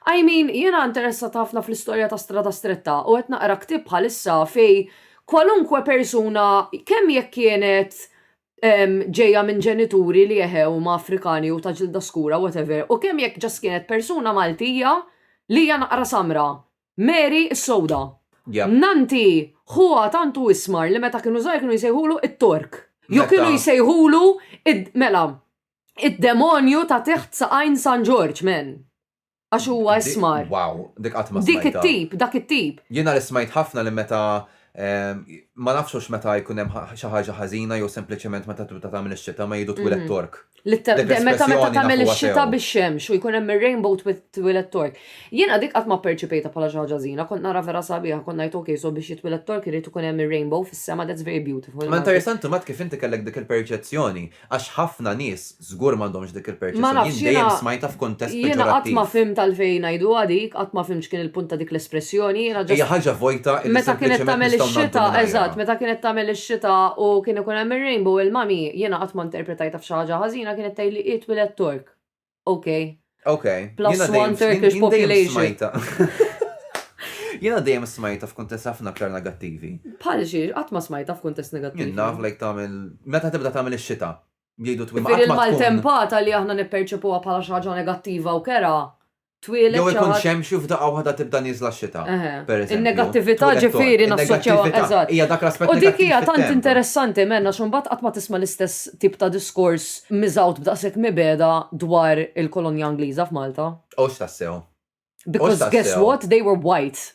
I mean, jiena interessat ħafna fl-istorja ta' Strada Stretta u qed naqra ktieb bħalissa fej kwalunkwe persuna kemm jekk kienet ġejja minn ġenituri li eħe huma Afrikani jew ta' ġilda skura whatever u kemm jekk just kienet persuna Maltija li hija naqra samra. Mary s-Sewda. Yep. Nanti ħuha tant hu ismar li meta kienu żgħar kienu jsejħulu it-Tork. Jew Meta- kienu jsejħulu id- mela id-demonju ta' teħt saqajn San Ġorġ, men. Għax huwa Di- ismar. Wow, dik qatt ma Dik smajtha. it-tip, dak it-tip. Jiena li smajt ħafna li meta Ma nafx hux meta jkun hemm xi ħaġa ħażina jew sempliċement meta tibda tagħmel ix-xita ma jgħidu twiled Tork. Meta tagħmel ix-xita bix-xemx u jkun hemm ir-rainbow twiled Tork. Jiena dik qatt ma pperċipejtha bħala xi ħaġa ħażina, kont nara vera sabiħa, kont ngħid ok so biex jitwiled Tork irid ikun hemm ir-rainbow fis-sema that's very beautiful. Imma interessanti mbagħad kif inti kellek dik il-perċezzjoni Għax ħafna nies żgur m'għandhomx dik il-perċezzjoni. Jien dejjem smajtha f'kuntest peġorattiv. Jiena qatt ma fimt għalfejn ngħiduha dik, qatt ma fimt x'kien il-punt ta' dik l-espressjoni. Jiena ġast. Hija ħaġa vojta li sempliċement nistgħu ngħaddu minnha. Eżatt, meta kienet tagħmel ix-xita u kien ikun hemm ir-rainbow il-mommy, jiena qatt ma interpretajtha f'xi ħaġa ħażina, kienet tgħidli hi twiledt Tork. ok. Ok. Plus one Turkish population. Jena dejjem smajta f'kuntest ħafna aktar negattivi. Bħal xiex, qatt ma smajta f'kuntest negattivi. Jien naf lejk tagħmel meta tibda tagħmel ix-xita. Jgħidu twim Fir il-maltempata li aħna nipperċepuha bħala xi ħaġa negattiva u kera. Twieled. Jew ikun xemxu f'da waħda tibda niżla x-xita. In-negattività ġifieri nassoċjaw eżatt. Hija dak l-aspett. U dik hija tant interessanti menna x'un bat qatt ma tisma' l-istess tip ta' diskors miżgħud b'daqshekk mibegħda dwar il-kolonja Ingliża f'Malta. Hux tassew. Because guess what, they were white.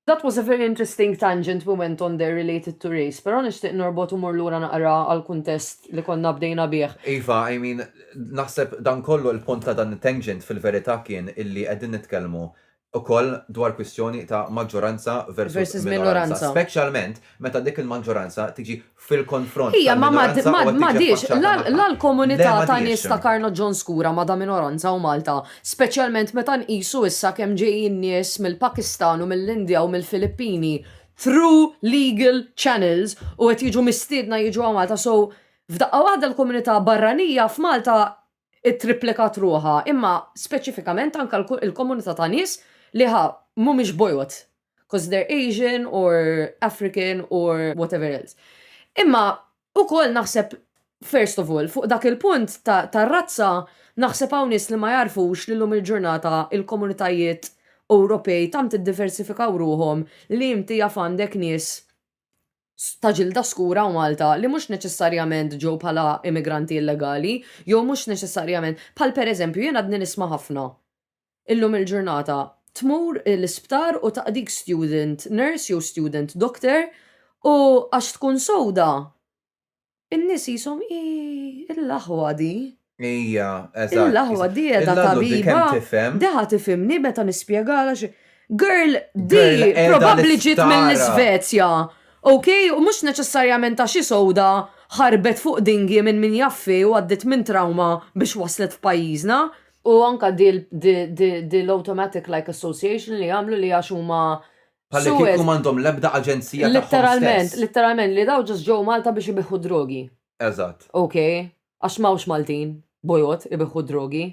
That was a very interesting tangent we went on there related to race, però nixtieq norbot u mur lura naqra għall-kuntest li konna bdejna bih. Iva, I mean, naħseb dan kollu l-punt ta' dan it-tangent fil-verità kien illi qegħdin nitkellmu ukoll dwar kwistjoni ta' maġġoranza versus minoranza, speċjalment meta dik il-maġġoranza tiġi fil-konfront. Hija ma madiex la l-komunità ta' nies ta' Karno John Skura ma da minoranza u Malta, speċjalment meta nqisu issa kemm ġejjin nies mill-Pakistan u mill-Indja u mill-Filippini through legal channels u qed jiġu mistiedna jiġu hawn Malta so f'daqqa waħda l-komunità barranija f'Malta ittripplikat ruħha, imma speċifikament anke l-komunità ta' nies li ħa mhumiex bojod, because they're Asian or African or whatever else. Imma ukoll naħseb first of all, fuq dak il-punt tar-razza, naħseb hawn nies li ma jagħrfux li llum il-ġurnata il-komunitajiet Ewropej tant iddiversifikaw ruħhom li inti jaf għandek nies ta' ġilda skura u Malta li mhux neċessarjament ġew bħala immigranti illegali jew mhux neċessarjament bħal pereżempju jien għadni nisma' ħafna illum il-ġurnata tmur l-isptar u taqdik student nurse jew student doctor u għax tkun sewda In-nies qishom hi l-aħwa di. Hija, eżatt. Hi l-aħwa di qiegħda tabiba. Illa di kemm tifhem. Di ħa tifhimni meta nispjegalha xi. Girl, di probabbli ġiet mill-Isvezja. Ok, u mhux neċessarjament għax hi sewda ħarbet fuq dinghy minn min jaf fih u għaddiet minn trawma biex waslet f'pajjiżna. U anke di l-automatic like association li jagħmlu li għax huma Bħalli kieku m'għandhom l-ebda aġenzija tagħhom. Litteralment, litteralment li daw ġust ġew Malta biex ibiħħu drogi. Eżatt. Okay, għax m'hawnx Maltin, bojod, ibiħħu drogi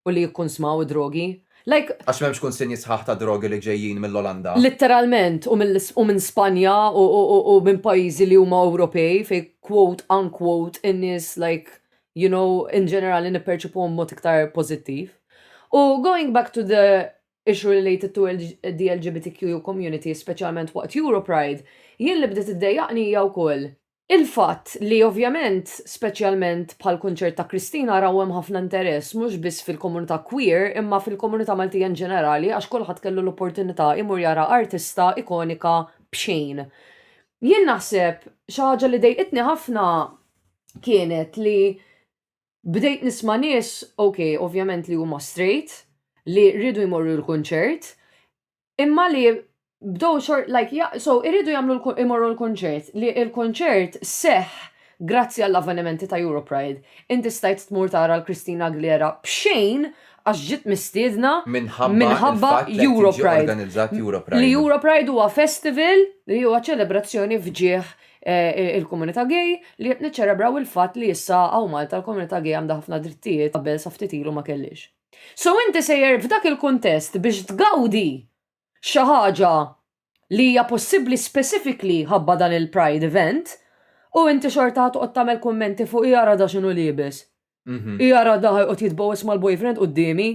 u li jikkunsmaw id-drogi. Like. Għax m'hemmx kunsinji sħaħ ta' drogi li ġejjin mill-Olanda. Litteralment, u minn Spanja u minn pajjiżi li huma Ewropej fejn quote unquote in-nies like you know, in ġenerali nipperċipuhom mod iktar pożittiv. U going back to the issue related to the LGBTQ community, speċjalment waqt Europride, jien li bdiet iddejjaqni hija wkoll. Il-fatt li ovvjament, speċjalment bħal kunċert ta' Kristina raw hemm ħafna interess mhux biss fil-komunità queer imma fil-komunità Maltija in ġenerali għax kulħadd kellu l-opportunità imur jara artista ikonika b'xejn. Jien naħseb xi ħaġa li dejqitni ħafna kienet li bdejt nisma' nies, ok, ovvjament li huma straight, li rridu jmorru l-kunċert, imma li bdow xort, like, ja, so, irridu jagħmlu jmorru l-kunċert, li l-kunċert seħ grazzi għall-avvenimenti ta' Europride. Inti stajt tmur tara l-Christina Aguilera b'xejn għax ġiet mistiedna minħabba Europride. Li Europride huwa festival li huwa ċelebrazzjoni f'ġieħ il-komunità gay li qed niċċelebraw il-fatt li issa hawn Malta l-komunità gay għandha ħafna drittijiet qabel sa ftit ilu ma kellhiex. So inti sejjer f'dak il-kuntest biex tgawdi xi ħaġa li hija possibbli specifically ħabba dan il-pride event u inti xorta ħa toqgħod tagħmel kummenti fuq i ara da x'inhu liebes. I ara da ħa jqgħod jitbogħos mal-boyfriend quddiemi.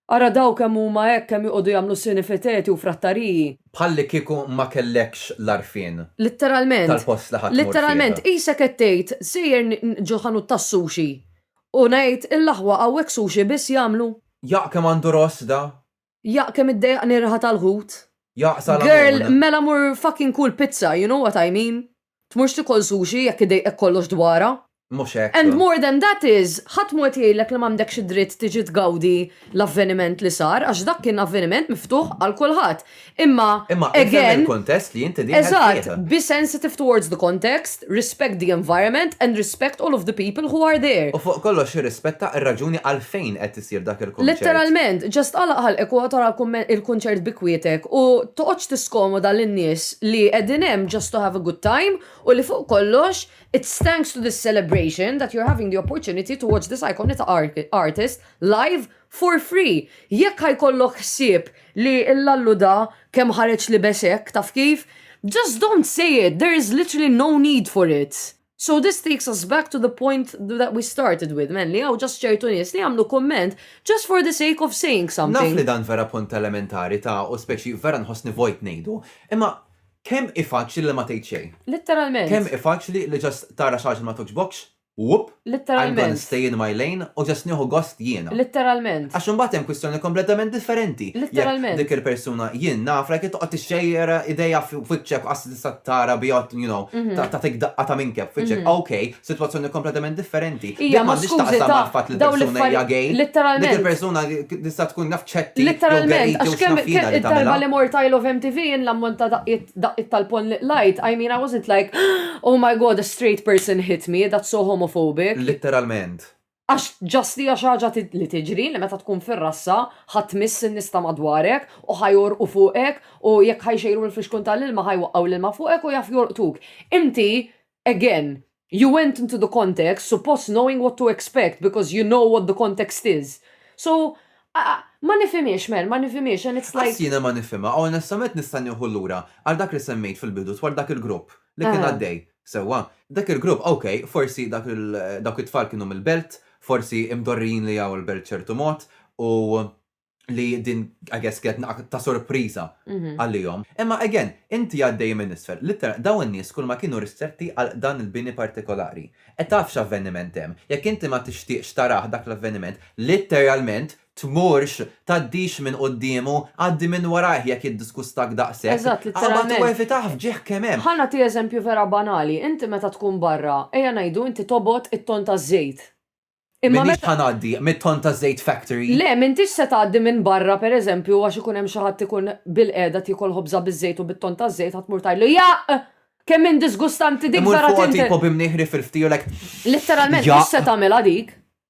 Ara dawk kemm huma hekk kemm joqogħdu jagħmlu sinifiteti u frattariji. Bħallikieku ma kellekx l-għarfien. Litteralment. Tal-post li ħa tmur fih. Litteralment, qisek qed tgħid, sejjer ġo ħanut tas-sushi u ngħid, il-aħwa hawnhekk sushi biss jagħmlu? Jaqq kemm għandu ross da! Jaqq kemm iddejjaqni r-riħa tal-ħut! Jaqq sal-għanun! Girl, mela mur fucking kul pizza, you know what I mean? Tmurx tikol sushi jekk idejqek kollox dwarha. Mhux hekk. And more than that is, ħadd mhu qed jgħidlek li m'għandekx id-dritt tiġi tgawdi l-avveniment li sar għax dak kien avveniment miftuħ għal kulħadd. Imma, again. Imma ifhem il-kuntest li inti dieħel fih. Eżatt, be sensitive towards the context, respect the environment and respect all of the people who are there. U fuq kollox irrispetta r-raġuni għalfejn qed issir dak il-kunċert. Letteralment, just għalaq ħalqek u oqgħod ara il-kunċert bi kwietek u toqgħodx tiskomoda lin-nies li qegħdin hemm just to have a good time u li fuq kollox it's thanks to this celebration that you're having the opportunity to watch this iconic artist live for free. Jekk ħa jkollok ħsieb li l-Lallu da kemm ħareġ libes hekk taf kif, just don't say it, there is literally no need for it. So this takes us back to the point that we started with, men, li għaw ġas ċertu nies li għamlu komment just for the sake of saying something. Naf li dan vera punt elementari ta' u speċi vera nħossni vojt nejdu, imma kem ifaċli li ma tgħid xejn? Litteralment. Kem ifaċli li ġas tara xaġa ma toġbokx? Wup! Litteralment. I'm gonna stay in my lane u ġas nieħu gost jiena. Litteralment. Għax imbagħad hemm kwistjoni kompletament differenti. Litteralment. Dik il-persuna jien nafra kif toqgħod tixxejjer idejha f'wiċċek tista' tara biha, you know, ta' ta' tik daqqa ta' minkeb fiċek. Okay, sitwazzjoni kompletament differenti. Ija, ma skużi ta' fatt li persuna hija gay. Literalment. Dik il-persuna tista' tkun naf ċetti. Literalment, għax kemm kemm id-darba li mort I love MTV jien l-ammont ta' daqqiet daqqiet tal-ponn li qlajt, I mean I wasn't like, oh my God, a straight person hit me, that's so homophobic. Literalment. Għax just hija xi ħaġa li tiġri li meta tkun fir-rassa ħa tmiss in-nies ta' madwarek u ħa jgħorqu fuqek u jekk ħa jxejru mill-fixkun tal-ilma ħa jwaqqgħu l-ilma fuqek u jaf jolqtuk. Inti, again, you went into the context suppost knowing what to expect because you know what the context is. So, ma nifhimhiex man, ma nifhimhiex and it's like. Qatt jiena ma nifhimha, onestament nista' nieħu lura għal dak li semmejt fil-bidu dwar dak il-grupp li kien għaddej. Sewwa, dak il-grupp, ok, forsi dak il, dawk it-tfal kienu mill-Belt, forsi imdorrijin li ġew il-Belt b'ċertu mod, u li din, I guess, kienet naqqa' ta' sorpriża għalihom. Imma, again, inti għaddej minn isfel, litteralment, dawn in-nies kulma kienu ristretti għal dan il-bini partikolari. E taf x'avveniment hemm. Jekk inti ma tixtieqx tarah dak l-avveniment, litteralment, tmurx, tgħaddix minn quddiemu, għaddi minn warajh jekk jiddiskustak daqshekk. Eżatt, litteralment. Qabad u evitah f'ġieħ kemm hemm. Ħa nagħti eżempju vera banali, inti meta tkun barra, ejja ngħidu inti tobgħod it-tonn taż-żejt. Imma M'iniex meta. ħa ngħaddi mit-tonn taż-żejt factory. Le, m'intix se tgħaddi minn barra pereżempju għax ikun hemm xi ħadd ikun bilqiegħda qed jiekol ħobża biż-żejt u bit-tonn taż-żejt ħa tmur tgħidlu, Jaqq! Kemm hi disgustanti dik Imur vera fuqha tint! tipo b'imnieħ riff il-ftielek, Litteralment mhux se Jaqq! tagħmilha dik.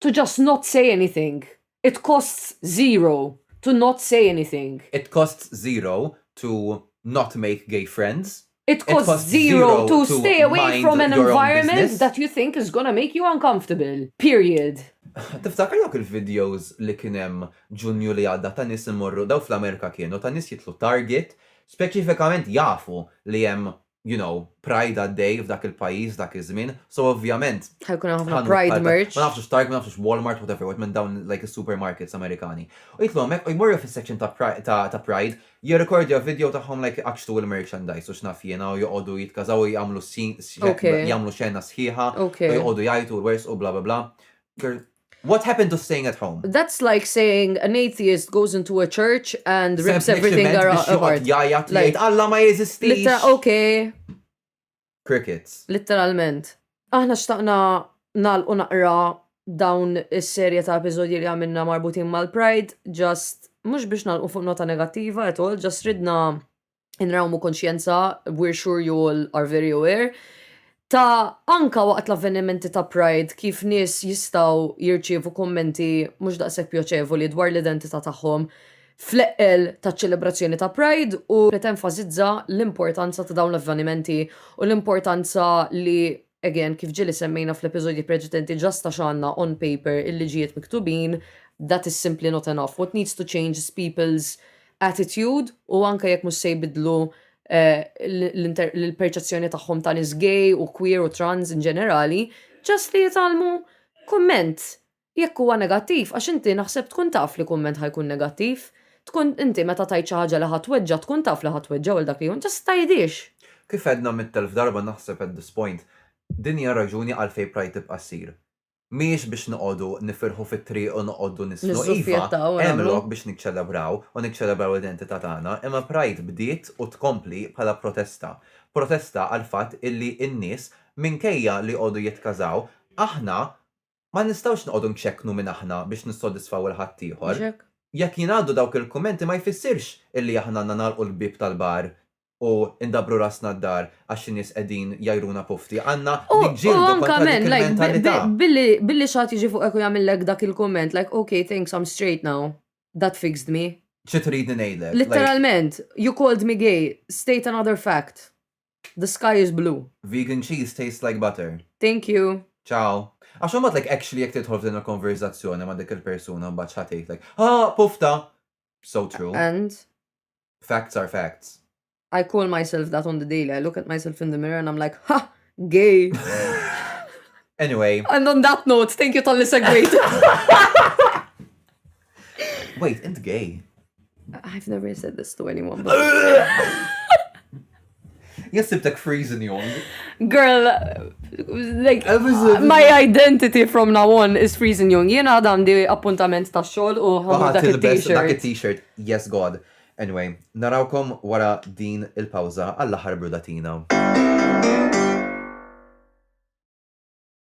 To just not say anything. It costs zero to not say anything. It costs zero to not make gay friends. It costs zero to stay away from an environment that you think is gonna make you uncomfortable. Period. Tiftakar dawk il-videos li kien hemm Ġunju li għadda ta' nies imorru, dawk fl-Amerika kienu, ta' nies jidħlu Target, speċifikament jafu li hemm you know, pride għaddej f'dak il-pajjiż dak iż-żmien, so ovvjament. Ħajkun ħafna pride merch. Ma nafx Target, ma nafx Walmart, whatever, what minn dawn like supermarkets Amerikani. U jitlu hemmhekk u jmorru fis-section ta' pride, jirrekordja video tagħhom like iqaċċtu il-merchandise u x'naf jiena u joqogħdu jitkażaw u jagħmlu jagħmlu xena sħiħa, joqogħdu jgħidu l-wers u bla bla bla. What happened to staying at home? That's like saying an atheist goes into a church and rips everything around. Sempliċiment jgħajjat jgħid Alla ma jeżistix. Littera, okay. Crickets. Literalment. Aħna xtaqna nal u naqra dawn is-serje ta' episodji li għamilna marbutin mal-Pride, just mhux biex nalqu fuq nota negattiva at all, just ridna inrawmu konxjenza, we're sure you all are very aware, ta' anka waqt l-avvenimenti ta' Pride kif nies jistgħu jirċievu kummenti mhux daqshekk pjoċevoli dwar l-identità tagħhom fl-eqqel taċ-ċelebrazzjoni ta' Pride u tenfasizza l-importanza ta' dawn l-avvenimenti u l-importanza li Again, kif ġieli semmejna fl-episodji preċedenti ġast għax għandna on paper il-liġijiet miktubin, that is simply not enough. What needs to change is people's attitude u anke jekk mhux se jbiddlu l-perċezzjoni tagħhom ta' nies gay u queer u trans in ġenerali, ġast li jitgħallmu kumment Jekk huwa negattiv għax inti naħseb tkun taf li kumment ħa jkun negattiv. Tkun inti meta tgħid xi ħaġa li ħa tweġġa' tkun taf li ħa tweġġa' u għal dak li hu just tgħidhiex. Kif għedna mitt elf darba naħseb at this point, din hija r-raġuni għalfejn Pride tibqa' ssir. Mhijiex biex noqogħdu nifirħu fit-triq u noqogħdu nisħnu, iva, hemm lok biex niċċelebraw u niċċelebraw l-identità tagħna, imma Pride bdiet u tkompli bħala protesta. Protesta għall-fatt illi n-nies minkejja li jqogħdu jitkażaw, aħna Ma nistgħux noqogħdu nċekknu min aħna biex nissodisfaw 'il ħaddieħor. Mhux hekk? Jekk jingħaddu dawk il-kummenti ma jfissirx illi aħna għandna nagħlqu l-bieb tal-bar u ndabbru rasna d-dar għax xi nies qegħdin jgħajruna pufti. Għandna niġġieldu kontra dik il-mentalità. U anka men, like, billi xi ħadd jiġi fuqek u jagħmillek dak il-kumment, like, ok, thanks, I'm straight now. That fixed me. Xi tridni ngħidlek? Litteralment, you called me gay, state another fact. The sky is blue. Vegan cheese tastes like butter. Thank you. Ciao. Għax imbagħad like actually jekk tidħol f'din il-konverżazzjoni ma' dik il-persuna imbagħad x'ħa tgħidlek? Haa! Pufta! So true. And? Facts are facts. I call myself that on the daily. I look at myself in the mirror and I'm like, ha! Gay! Anyway. And on that note, thank you tal-li segwejt. Wait, int gay? I've never said this to anyone. Yes, sibtek freezing yon. Girl, like, my identity from now on is freezing yon. Jena għadam di appuntament ta' xol u għamil dak il-t-shirt. Dak il-t-shirt, yes god. Anyway, narawkom wara din il-pawza għall-aħħar brudatina.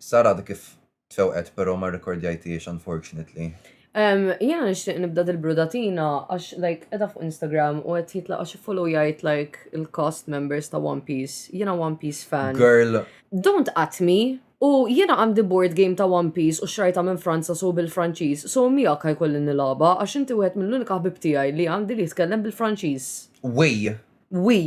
Sara għadha kif tfewqet però ma rrekordjajthiex unfortunately. Ehm, jiena nixtieq nibda dil-brudatina għax like edha fuq Instagram u qed jitla għax jgħid like il-cast members ta' One Piece. Jiena One Piece fan. Girl. Don't at me. U jiena għandi board game ta' One Piece u xrajta minn Franza so bil-Franċiż, so miegħek ħajkolli nilaba għax inti wieħed mill-unika ħbib tiegħi li għandi li jitkellem bil-Franċiż. Wi. Wi.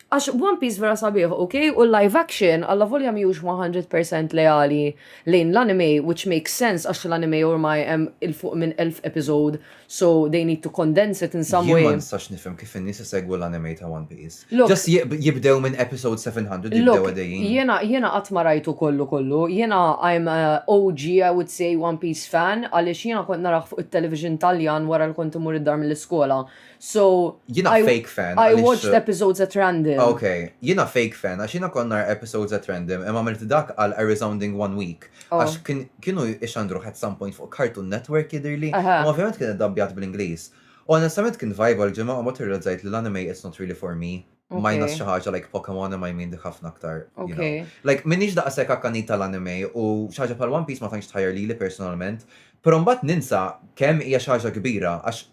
Għax One Piece vera sabiħ, ok? U l-live action, alla volja miħux 100% leali lejn l-anime, which makes sense għax l-anime ormai hemm il-fuq minn 1000 episode, so they need to condense it in some way. Jien ma nistax nifhem kif in-nies isegwu l-anime ta' One Piece. Just jibdew minn episode 700 jibdew għadejjin. Look, jiena qatt ma rajtu kollu kollu. Jiena I'm a OG, I would say, One Piece fan għaliex jiena kont narah fuq it-television Taljan wara li kont immur id-dar mill-iskola. So, jina I, fake fan. I watched uh, episodes at random. Ok, jina fake fan, għax jina kon nar episodes at random, imma għamilt dak għal a resounding one week. Oh. Għax oh. kienu ixandru at some point fuq Cartoon Network jidirli, uh -huh. u ovvjament kien dabbjat bl-Inglis. Onestament kien vibe għal-ġimma u mot irrezzajt li l-anime it's not really for me. Majna xi ħaġa like Pokemon ma jmin dik ħafna aktar. Okay. Like minix daqshekk akkanit tal-anime u xi ħaġa bħal One Piece ma tantx tħajjar lili personalment, però mbagħad ninsa kemm hija xi ħaġa kbira għax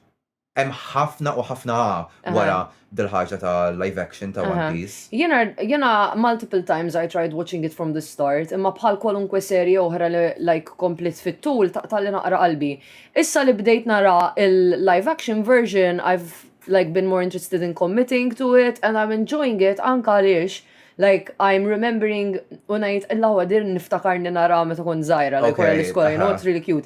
Hemm ħafna u ħafna A wara dil-ħaġa ta' live action ta' One Piece. Jiena multiple times I tried watching it from the start, imma bħal kwalunkwe serje oħra li like kompliet fit-tul taqtagħli naqra qalbi. Issa li bdejt nara il-live action version I've like been more interested in committing to it and I'm enjoying it anke għaliex like I'm remembering u ngħid illawwa din niftakarni naraha meta kont żgħira like wara l-iskola, you know, it's really cute.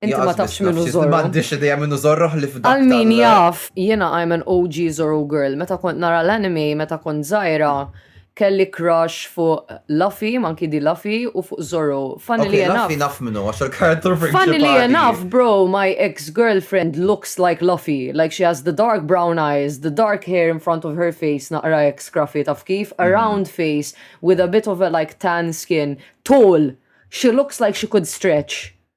Inti ma tafx minnu zorru. Ma għandix ideja minnu zorru li f'dak. Għal min jaf, jena I'm an OG zorru girl. Meta kont nara l-anime, meta kont zaħira, kelli crush fuq Luffy, manki di Luffy, u fuq Zorro. Funny li jenaf. Luffy naf minnu, għax il-karakter principali. Funny li jenaf, bro, my ex-girlfriend looks like Luffy. Like she has the dark brown eyes, the dark hair in front of her face, naqra ex scruffy taf kif, a mhm. round face, with a bit of a like tan skin, tall. She looks like she could stretch.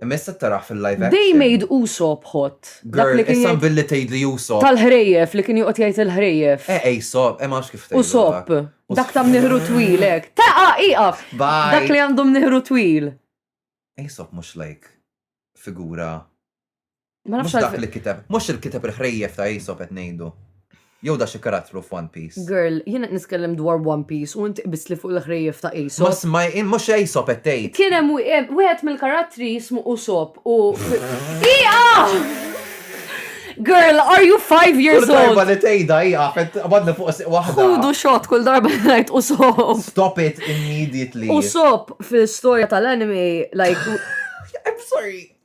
Messa taraħ fil-live action. They made Usopp hot. Dak li kien jgħid billi tgħid li Usopp. Tal-ħrejjef li kien joqgħod jgħid il-ħrejjef. Eh Usopp, eh ma nafx kif tgħid. Usopp. Dak ta' mniħru twil hekk. Taqa' iqaf. Dak li għandu mniħru twil. Usopp mhux like figura Ma nafx dak li kiteb, mhux il-kiteb il-ħrejjef ta' Aesop qed ngħidu. Jew da xi karattru f'One Piece. Girl, jiena qed niskellem dwar One Piece u inti qbist li fuq il-ħrejjef ta' Aesop. Ma smaj, mhux Aesop qed tgħid. Kien hemm wieħed mill-karattri jismu Usopp u Ija! Girl, are you five years old? Darba li tejda hija qed qabadna fuq siq waħda. Ħudu xot kull darba li ngħid u sop. Stop it immediately. U sop fil-istorja tal-anime like I'm sorry.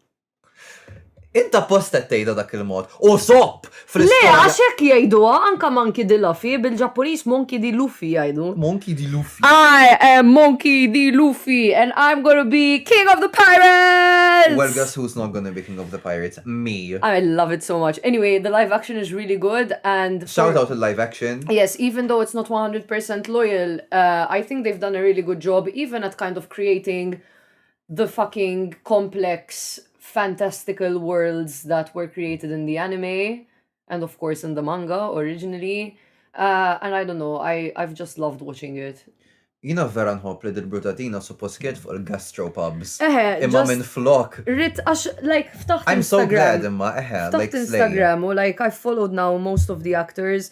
Inta posta tgħidha dak il-mod. U sopp fl Le, għax hekk jgħiduha anka Monkey di Luffy bil-Ġappuniż Monkey di Luffy jgħidu. Monkey di Luffy. I am Monkey di Luffy and I'm gonna be King of the Pirates! Well, guess who's not gonna be King of the Pirates? Me. I love it so much. Anyway, the live action is really good and Shout out il-live action. Yes, even though it's not 100% loyal, uh, I think they've done a really good job even at kind of creating the fucking complex fantastical worlds that were created in the anime and of course in the manga originally uh, and I don't know I, I've just loved watching it Jina vera nħobb li dil-brutatina suppost kienet fuq il-gastropubs. Eħe, imma minn flok. Rit, għax, like, ftaħt I'm so glad imma, eħe, like, Instagram, u like, I've followed now most of the actors.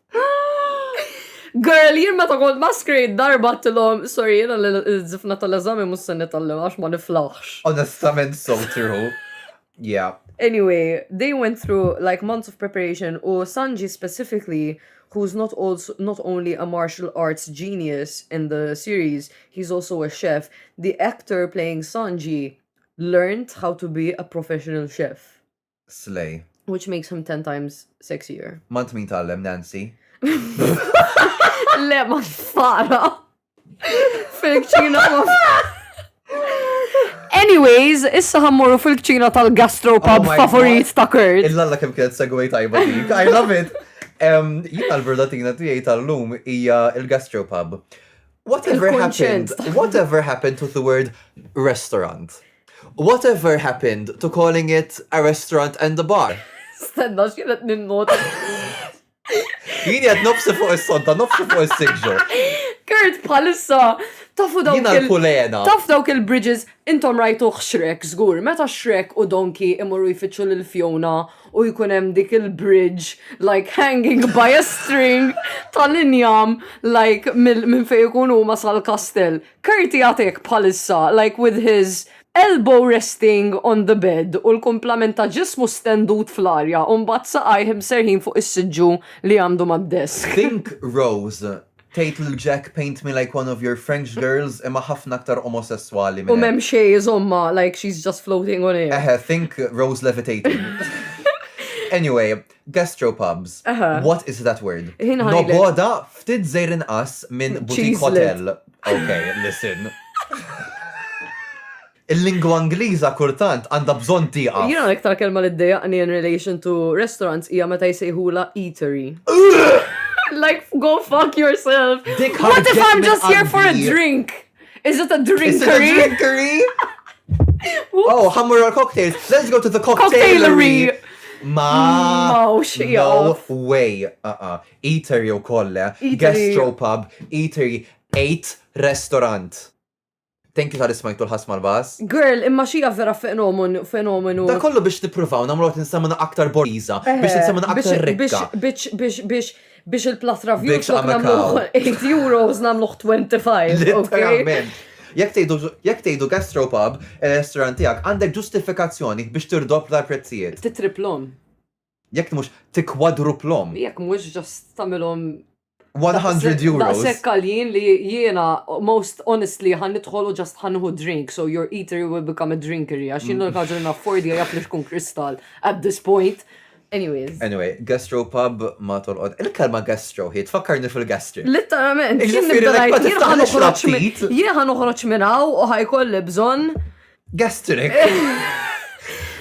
Girl, jien meta kont maskrejt darba tilhom, sorry, jiena l-zifna tal-eżami mhux se nitgħallem għax ma niflaħx. Onestament so true. Yeah. Anyway, they went through like months of preparation u Sanji specifically who's not also not only a martial arts genius in the series, he's also a chef. The actor playing Sanji learned how to be a professional chef. Slay. Which makes him ten times sexier. Mant min tallem Nancy. Le ma fara. Fil-kċina ma Anyways, issa ħammuru fil-kċina tal-gastropub oh favorit ta' Kurt. Illa-alla kem kienet segway tajba dik. I love it. Jina l-verdatina tijaj tal-lum hija il-gastropub. Whatever happened, whatever happened to the word restaurant? Whatever happened to calling it a restaurant and a bar? Stenna, xienet ninnota. Jini għad nofsi fuq il-sonta, nofsi fuq il-sigġu. Kurt, bħalissa, tafu dawk il-kulena. Taf dawk il-bridges, intom rajtu xrek, zgur, meta xrek u donki imorru jfittxu l-fjona u jkunem dik il-bridge, like hanging by a string tal-injam, like minn fej ikunu ma sal-kastel. Curti jagħtik bħalissa like with his elbow resting on the bed u l-kumplament ta' ġismu stendut fl-arja u mbagħad saqajh imserrħin fuq is-siġġu li għandu mad-desk. Think Rose tgħid lil Jack paint me like one of your French girls imma ħafna aktar omosesswali minn hekk. U m'hemm xejn iżommha like she's just floating on air. Eħe think Rose levitating. Anyway, Gastropubs. Aha. What is that word? Ħin ħajlek. Noboda ftit zejr inqas minn boutique Cheese hotel. Ok, listen. Il-lingwa Ingliża kurtant għandha bżonn tieqa. Jina l-iktar kelma li d-dejaqni in relation to restaurants hija meta jsejħula eatery. like, go fuck yourself. Dik What if ħarġet I'm minn just here for a qalbi. drink? Is it a drinkery? Oh, ħammur għal cocktails. Let's go to the cocktailery. Ma. Mawx, No way. Uh-uh. Eatery u kolle. Gastropub. Eatery. Eight restaurant. Thank you tal ismajtu l-ħas mal-bas. Girl, imma xija vera fenomenu, fenomenu. Da kollu biex nipruvaw, namlu għat nsemmu aktar boriza, eh, biex nsemmu aktar rikka. Biex, biex, biex, biex, biex il-plus review Biex flok għamel namluħ cow. 8 euros namluħ 25. ok? Literalment. Jekk tgħidu jekk tgħidu gastropub ir-restaurant tiegħek għandek ġustifikazzjoni biex tirdoppla l-prezzijiet. Titriplhom. Jekk mhux tikkwadruplhom. Jekk mhux ġast tagħmilhom 100 euros. Daqshekk għaljin li jiena most honestly ħan nidħol u ġast ħan nieħu drink, so your eatery will become a drinkery għax jien l-ħaġa li naffordja jaf li tkun kristal at this point. Anyways. Anyway, gastropub ma tolqod. Il-kelma gastro hi tfakkarni fil-gastric. Litteralment, jien Jiġifieri nibda l-ekba ngħid, jien tiftaħ ħa noħroġ minn- l-ixtaqtit. jien ħa noħroġ minn hawn u ħajkolli bżonn Gastric.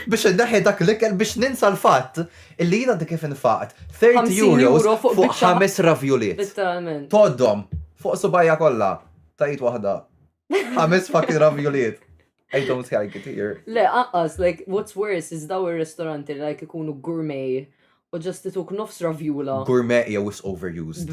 Biex indaħi dak l-ikel biex ninsa l-fatt illi jina dik kif infaqt 30 50 euros euro fuq fuq biċċa. ħames ravjuliet. litteralment. Toddom fuq subajja kollha. Tajt waħda. Ħames fucking ravjuliet. I don't like it here. Le, aqqas, like, what's worse is daw il-restoranti li like ikunu gourmet u ġast ituk nofs ravjula. Gourmet jew is overused.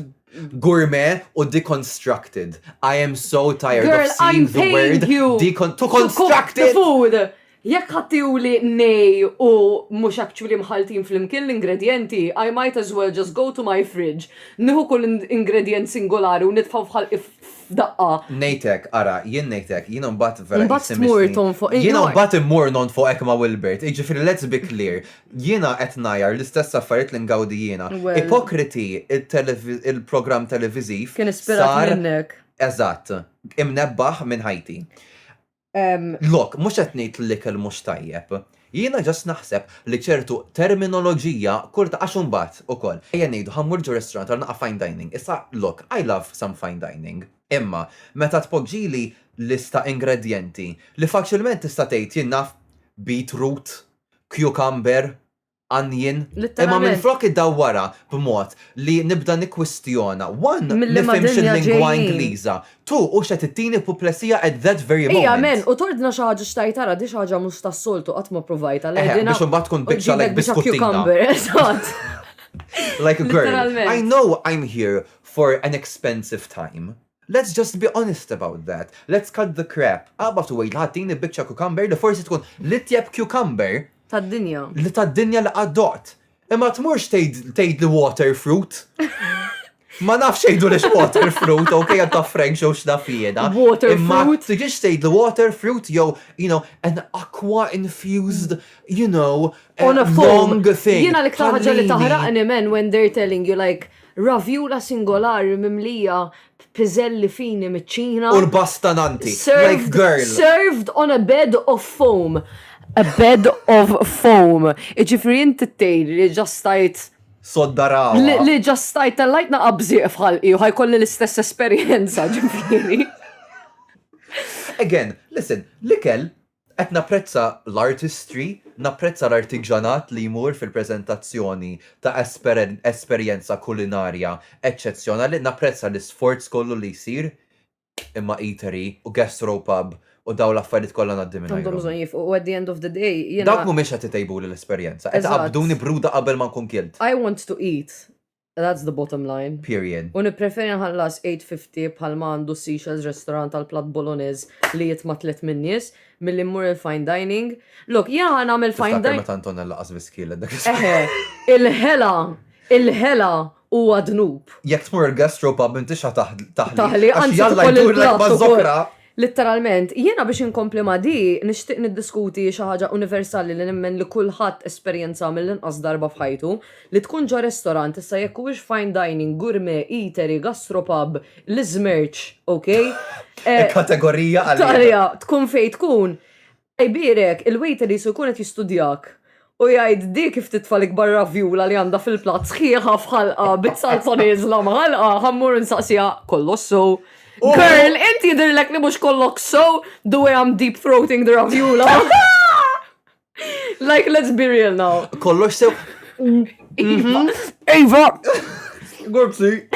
Gourmet u deconstructed. I am so tired Girl, of seeing I'm the word you to construct the food. Jekk ħadtihuli nej u mhux actually mħalltin flimkien l-ingredjenti, I might as well just go to my fridge, nieħu kull ingredjent singolari u nitfgħu f'ħalqi f'daqqa. Ngħidlek, ara, jien ngħidlek, jiena mbagħad vera Mbagħad qisni tmur missni. tonfoq. Jiena Iva. mbagħad immur nonfoqek ma' Wilbert. Jiġifieri let's be clear, jiena qed ngħajjar l-istess affarijiet li ngawdi jiena. Well. Ipokriti, it-televi, il-programm televiżiv Kien ispirat sar, minnek. eżatt, imnebbaħ minn ħajti. Lok, mhux qed ngħid li l-ikel mhux tajjeb. Jiena just naħseb li ċertu terminoloġija kulta għax imbagħad ukoll, ejja ngħidu ħa mmur ġo restaurant għal naqgħa fine dining, issa lok, I love some fine dining, imma meta tpoġġili lista ingredjenti li faċilment tista' tgħid jien naf beetroot, cucumber, għanjien. Imma minflok iddawwarha b'mod li nibda nikkwistjona, one, nifhimx il-lingwa Ingliża, two, u x'qed ittini puplesija at that very moment. Hija m'hemm, u tordna xi ħaġa x'tajt ara, di xi ħaġa mhux tas-soltu qatt ma provajtha. Eħe, biex imbagħad tkun biċċa like biskuttina. Like a girl. I know I'm here for an expensive time. Let's just be honest about that. Let's cut the crap. Aqbad u għidli ħattini biċċa cucumber li forsi tkun l-itjeb cucumber. Tad-dinja. Li tad-dinja li qatt doqt. Imma tmurx tgħidli water fruit. Ma nafx jgħidu lix water fruit, ok, għad ta' Frank xow xnaf jieda. Water fruit. Ma tiġix tgħidlu water fruit jew, you know, an aqua infused, you know, on a long thing. Jiena li ktaħġa li taħraqni men when they're telling you like Raviola singolari mimlija b'piżelli fini miċ-Ċina. U l-bass ta' Nanti, like girl! Served on a bed of foam. A bed of foam. Jiġifieri inti tgħidli li ġa stajt. Sodda ragħwa. Li ġa stajt tellajtna qabżieq f'ħalqi u ħa jkolli l-istess esperjenza, ġifieri. Again, listen, l-ikel Qed napprezza l-artistry, napprezza l-artiġanat li jmur fil-preżentazzjoni ta' esperjenza kulinarja eċċezzjonali, napprezza l-isforz kollu li jsir, imma eatery u gastro pub u dawn l-affarijiet kollha ngħaddi mingħajrhom. Għandhom bżonn jifqu u at the end of the day jiena. Dawk mhumiex qed itejbuli l-esperjenza, qed iqabbduni bruda qabel ma nkun kilt. I want to eat That's the bottom line. Period. U nippreferi nħallas 8.50 bħal ma għandu Seashells Restaurant għal platt Bolognese li jitma' tliet min-nies milli mmur il-fine dining. Lok, jiena ħa nagħmel fine Tiftakar dining. meta Antonella laqas viskielet dak is- Eħe, il-ħela, il-ħela huwa dnub. Jekk tmur il-gastropub m'intix ħa taħ- taħli. Taħli, Għax anzi jalla tħoll jdurlek il-platt ukoll. maż-żokra. Litteralment, jiena biex inkompli ma' di, nixtieq niddiskuti xi ħaġa universali li nemmen li kulħadd esperjenzha mill-inqas darba f'ħajtu, li tkun ġo restorant, issa jekk huwiex fine dining, gourmet, eatery, gastropub, l-iżmerċ, ok? Kategorija għaliha. Għaliha, tkun fejn tkun, Jbierek, il-waiter qisu jkun qed jistudjak u jgħid di kif titfa' l-ikbar raviola li għandha fil-platt sħiħa f'ħalqa bit-salsa nieżla mħallqa, ħa mmur insaqsiha, kollox sew? Girl, int jidhirlek li mhux kollok sew the way I'm deep throating the raviola? Like let's be real now. Kollox sew? Eva! Gurpsi.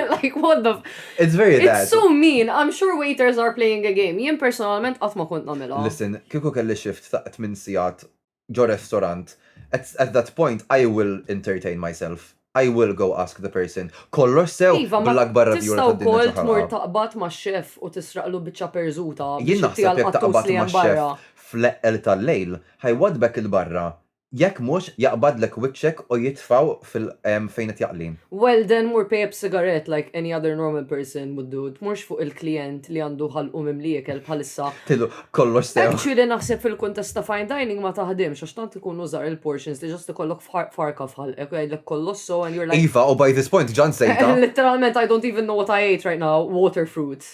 like, what the... It's very bad. It's so mean. I'm sure waiters are playing a game. Jien personalment qatt ma kont nagħmilha. Listen, kieku kelli shift ta' 8 sigħat ġo restaurant, at, at that point I will entertain myself. I will go ask the person. Kollox sew Iva, ma bl-akbar tista' radjura tad-dinja wkoll tmur ċaħalqa. taqbad ma' xef u tisraqlu biċċa perżuta Jien biex naħseb jekk taqbad ma' xef fl-eqqel tal-lejl, ħajwadbek il-barra Jekk mhux, jaqbadlek wiċċek u jitfgħu fil fejn qed jaqli. Well then mur pay up sigarett like any other normal person would do, tmurx fuq il-klijent li għandu ħalqu mimli ikel bħalissa. Tgħidlu kollox sew. Actually naħseb fil-kuntest ta' fine dining ma taħdimx għax tant ikunu żgħar il-portions li just ikollok farka f'ħalqek u jgħidlek kollosso and you're like. Iva, u by this point ġa nsejtha. Litteralment I don't even know what I ate right now, water fruit.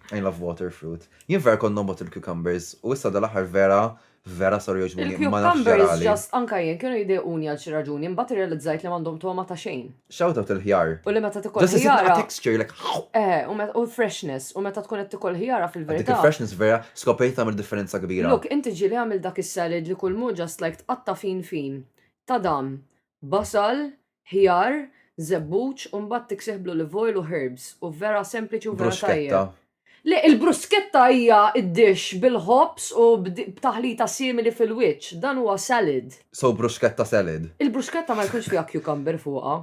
I love water fruit. Jien vera kont nobgħod il-cucumbers u issa dal-aħħar vera Vera saru jogħġbuni imma nafx ġarali. Il-cucumbers just anka jien kienu jdejquni għal xi raġuni imbagħad irrealizzajt li m'għandhom togħma ta' xejn. Shout out il-ħjar. U li meta tikol ħjara. Just isib naqa' texture like haww! Eħe, u meta u l-freshness, u meta tkun qed tikol ħjara fil-verità. Dik il-freshness vera skoprejt li tagħmel differenza kbira. Look, inti ġieli għamilt dak is-salad li kulmu just like tqatta' fin fin. Tadam! Basal, ħjar, żebbuġ u mbagħad tiksih bl-olive oil u herbs u vera sempliċi u vera tajjeb. Bruschetta. Le, il-bruschetta hija d-dish bil-ħobż u b'taħlita simili fil-wiċċ. Dan huwa salad. So bruschetta salad? Il-bruschetta ma jkunx fiha cucumber fuqha.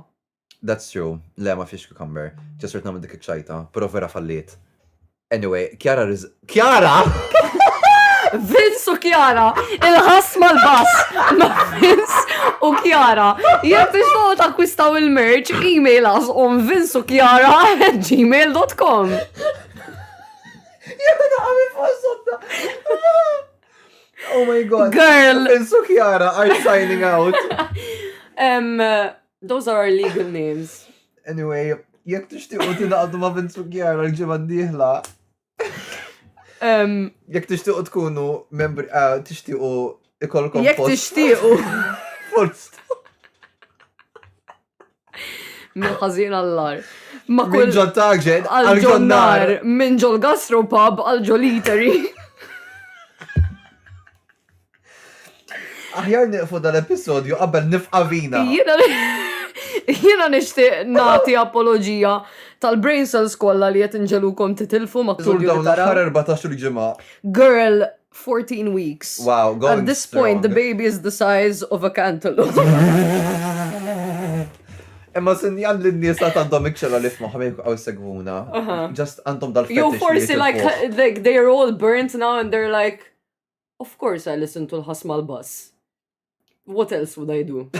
That's true. Le, ma fiex cucumber. Ġa sirt nagħmel dik iċ-ċajta, però vera falliet. Anyway, Kjara Riz... Kjara! Vince u Kjara, il-ħas mal-bass, ma Vince u Kjara. Jek biex taw takkwistaw il-merch, email us on Vince u Kjara at gmail.com. Jek għami fossodda. Oh my god. Girl. Vince u Kjara are signing out. Those are our legal names. Anyway, jekk tixtiqu tingħaqdu ma' Vince u Kjara l-ġimgħa d-dieħla. Jekk tixtiqu tkunu membri eh, tixtiqu ikolkom. Jekk tixtiqu. Forst. Minn ħażin allar. Ma kull. Minn ġol taġen, għal-ġonnar. Minn ġol gastropub, għal-ġol eatery. Aħjar niqfu dal-episodju qabel nifqa vina. Jiena nixtieq nagħti apologija tal-brain cells kollha li qed inġelukom titilfu ma' Tul dawn l-aħħar 14 ġimgħa. Girl, 14 weeks. Wow, go At this point, the baby is the size of a cantaloupe. Imma sinjal li n-nies ta' għandhom ikxela li f'maħħa minn għaw segwuna. Just għandhom dal-fetish. You forsi like, like they are all burnt now and they're like, Of course I listen to l-ħas mal-bass. What else would I do?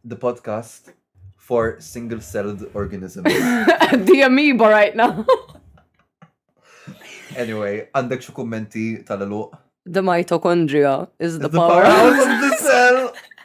The podcast for single-celled organisms. The amoeba right now. anyway, għandek xi kummenti tal-eluq? The mitochondria is the, the power. powerhouse of the cell.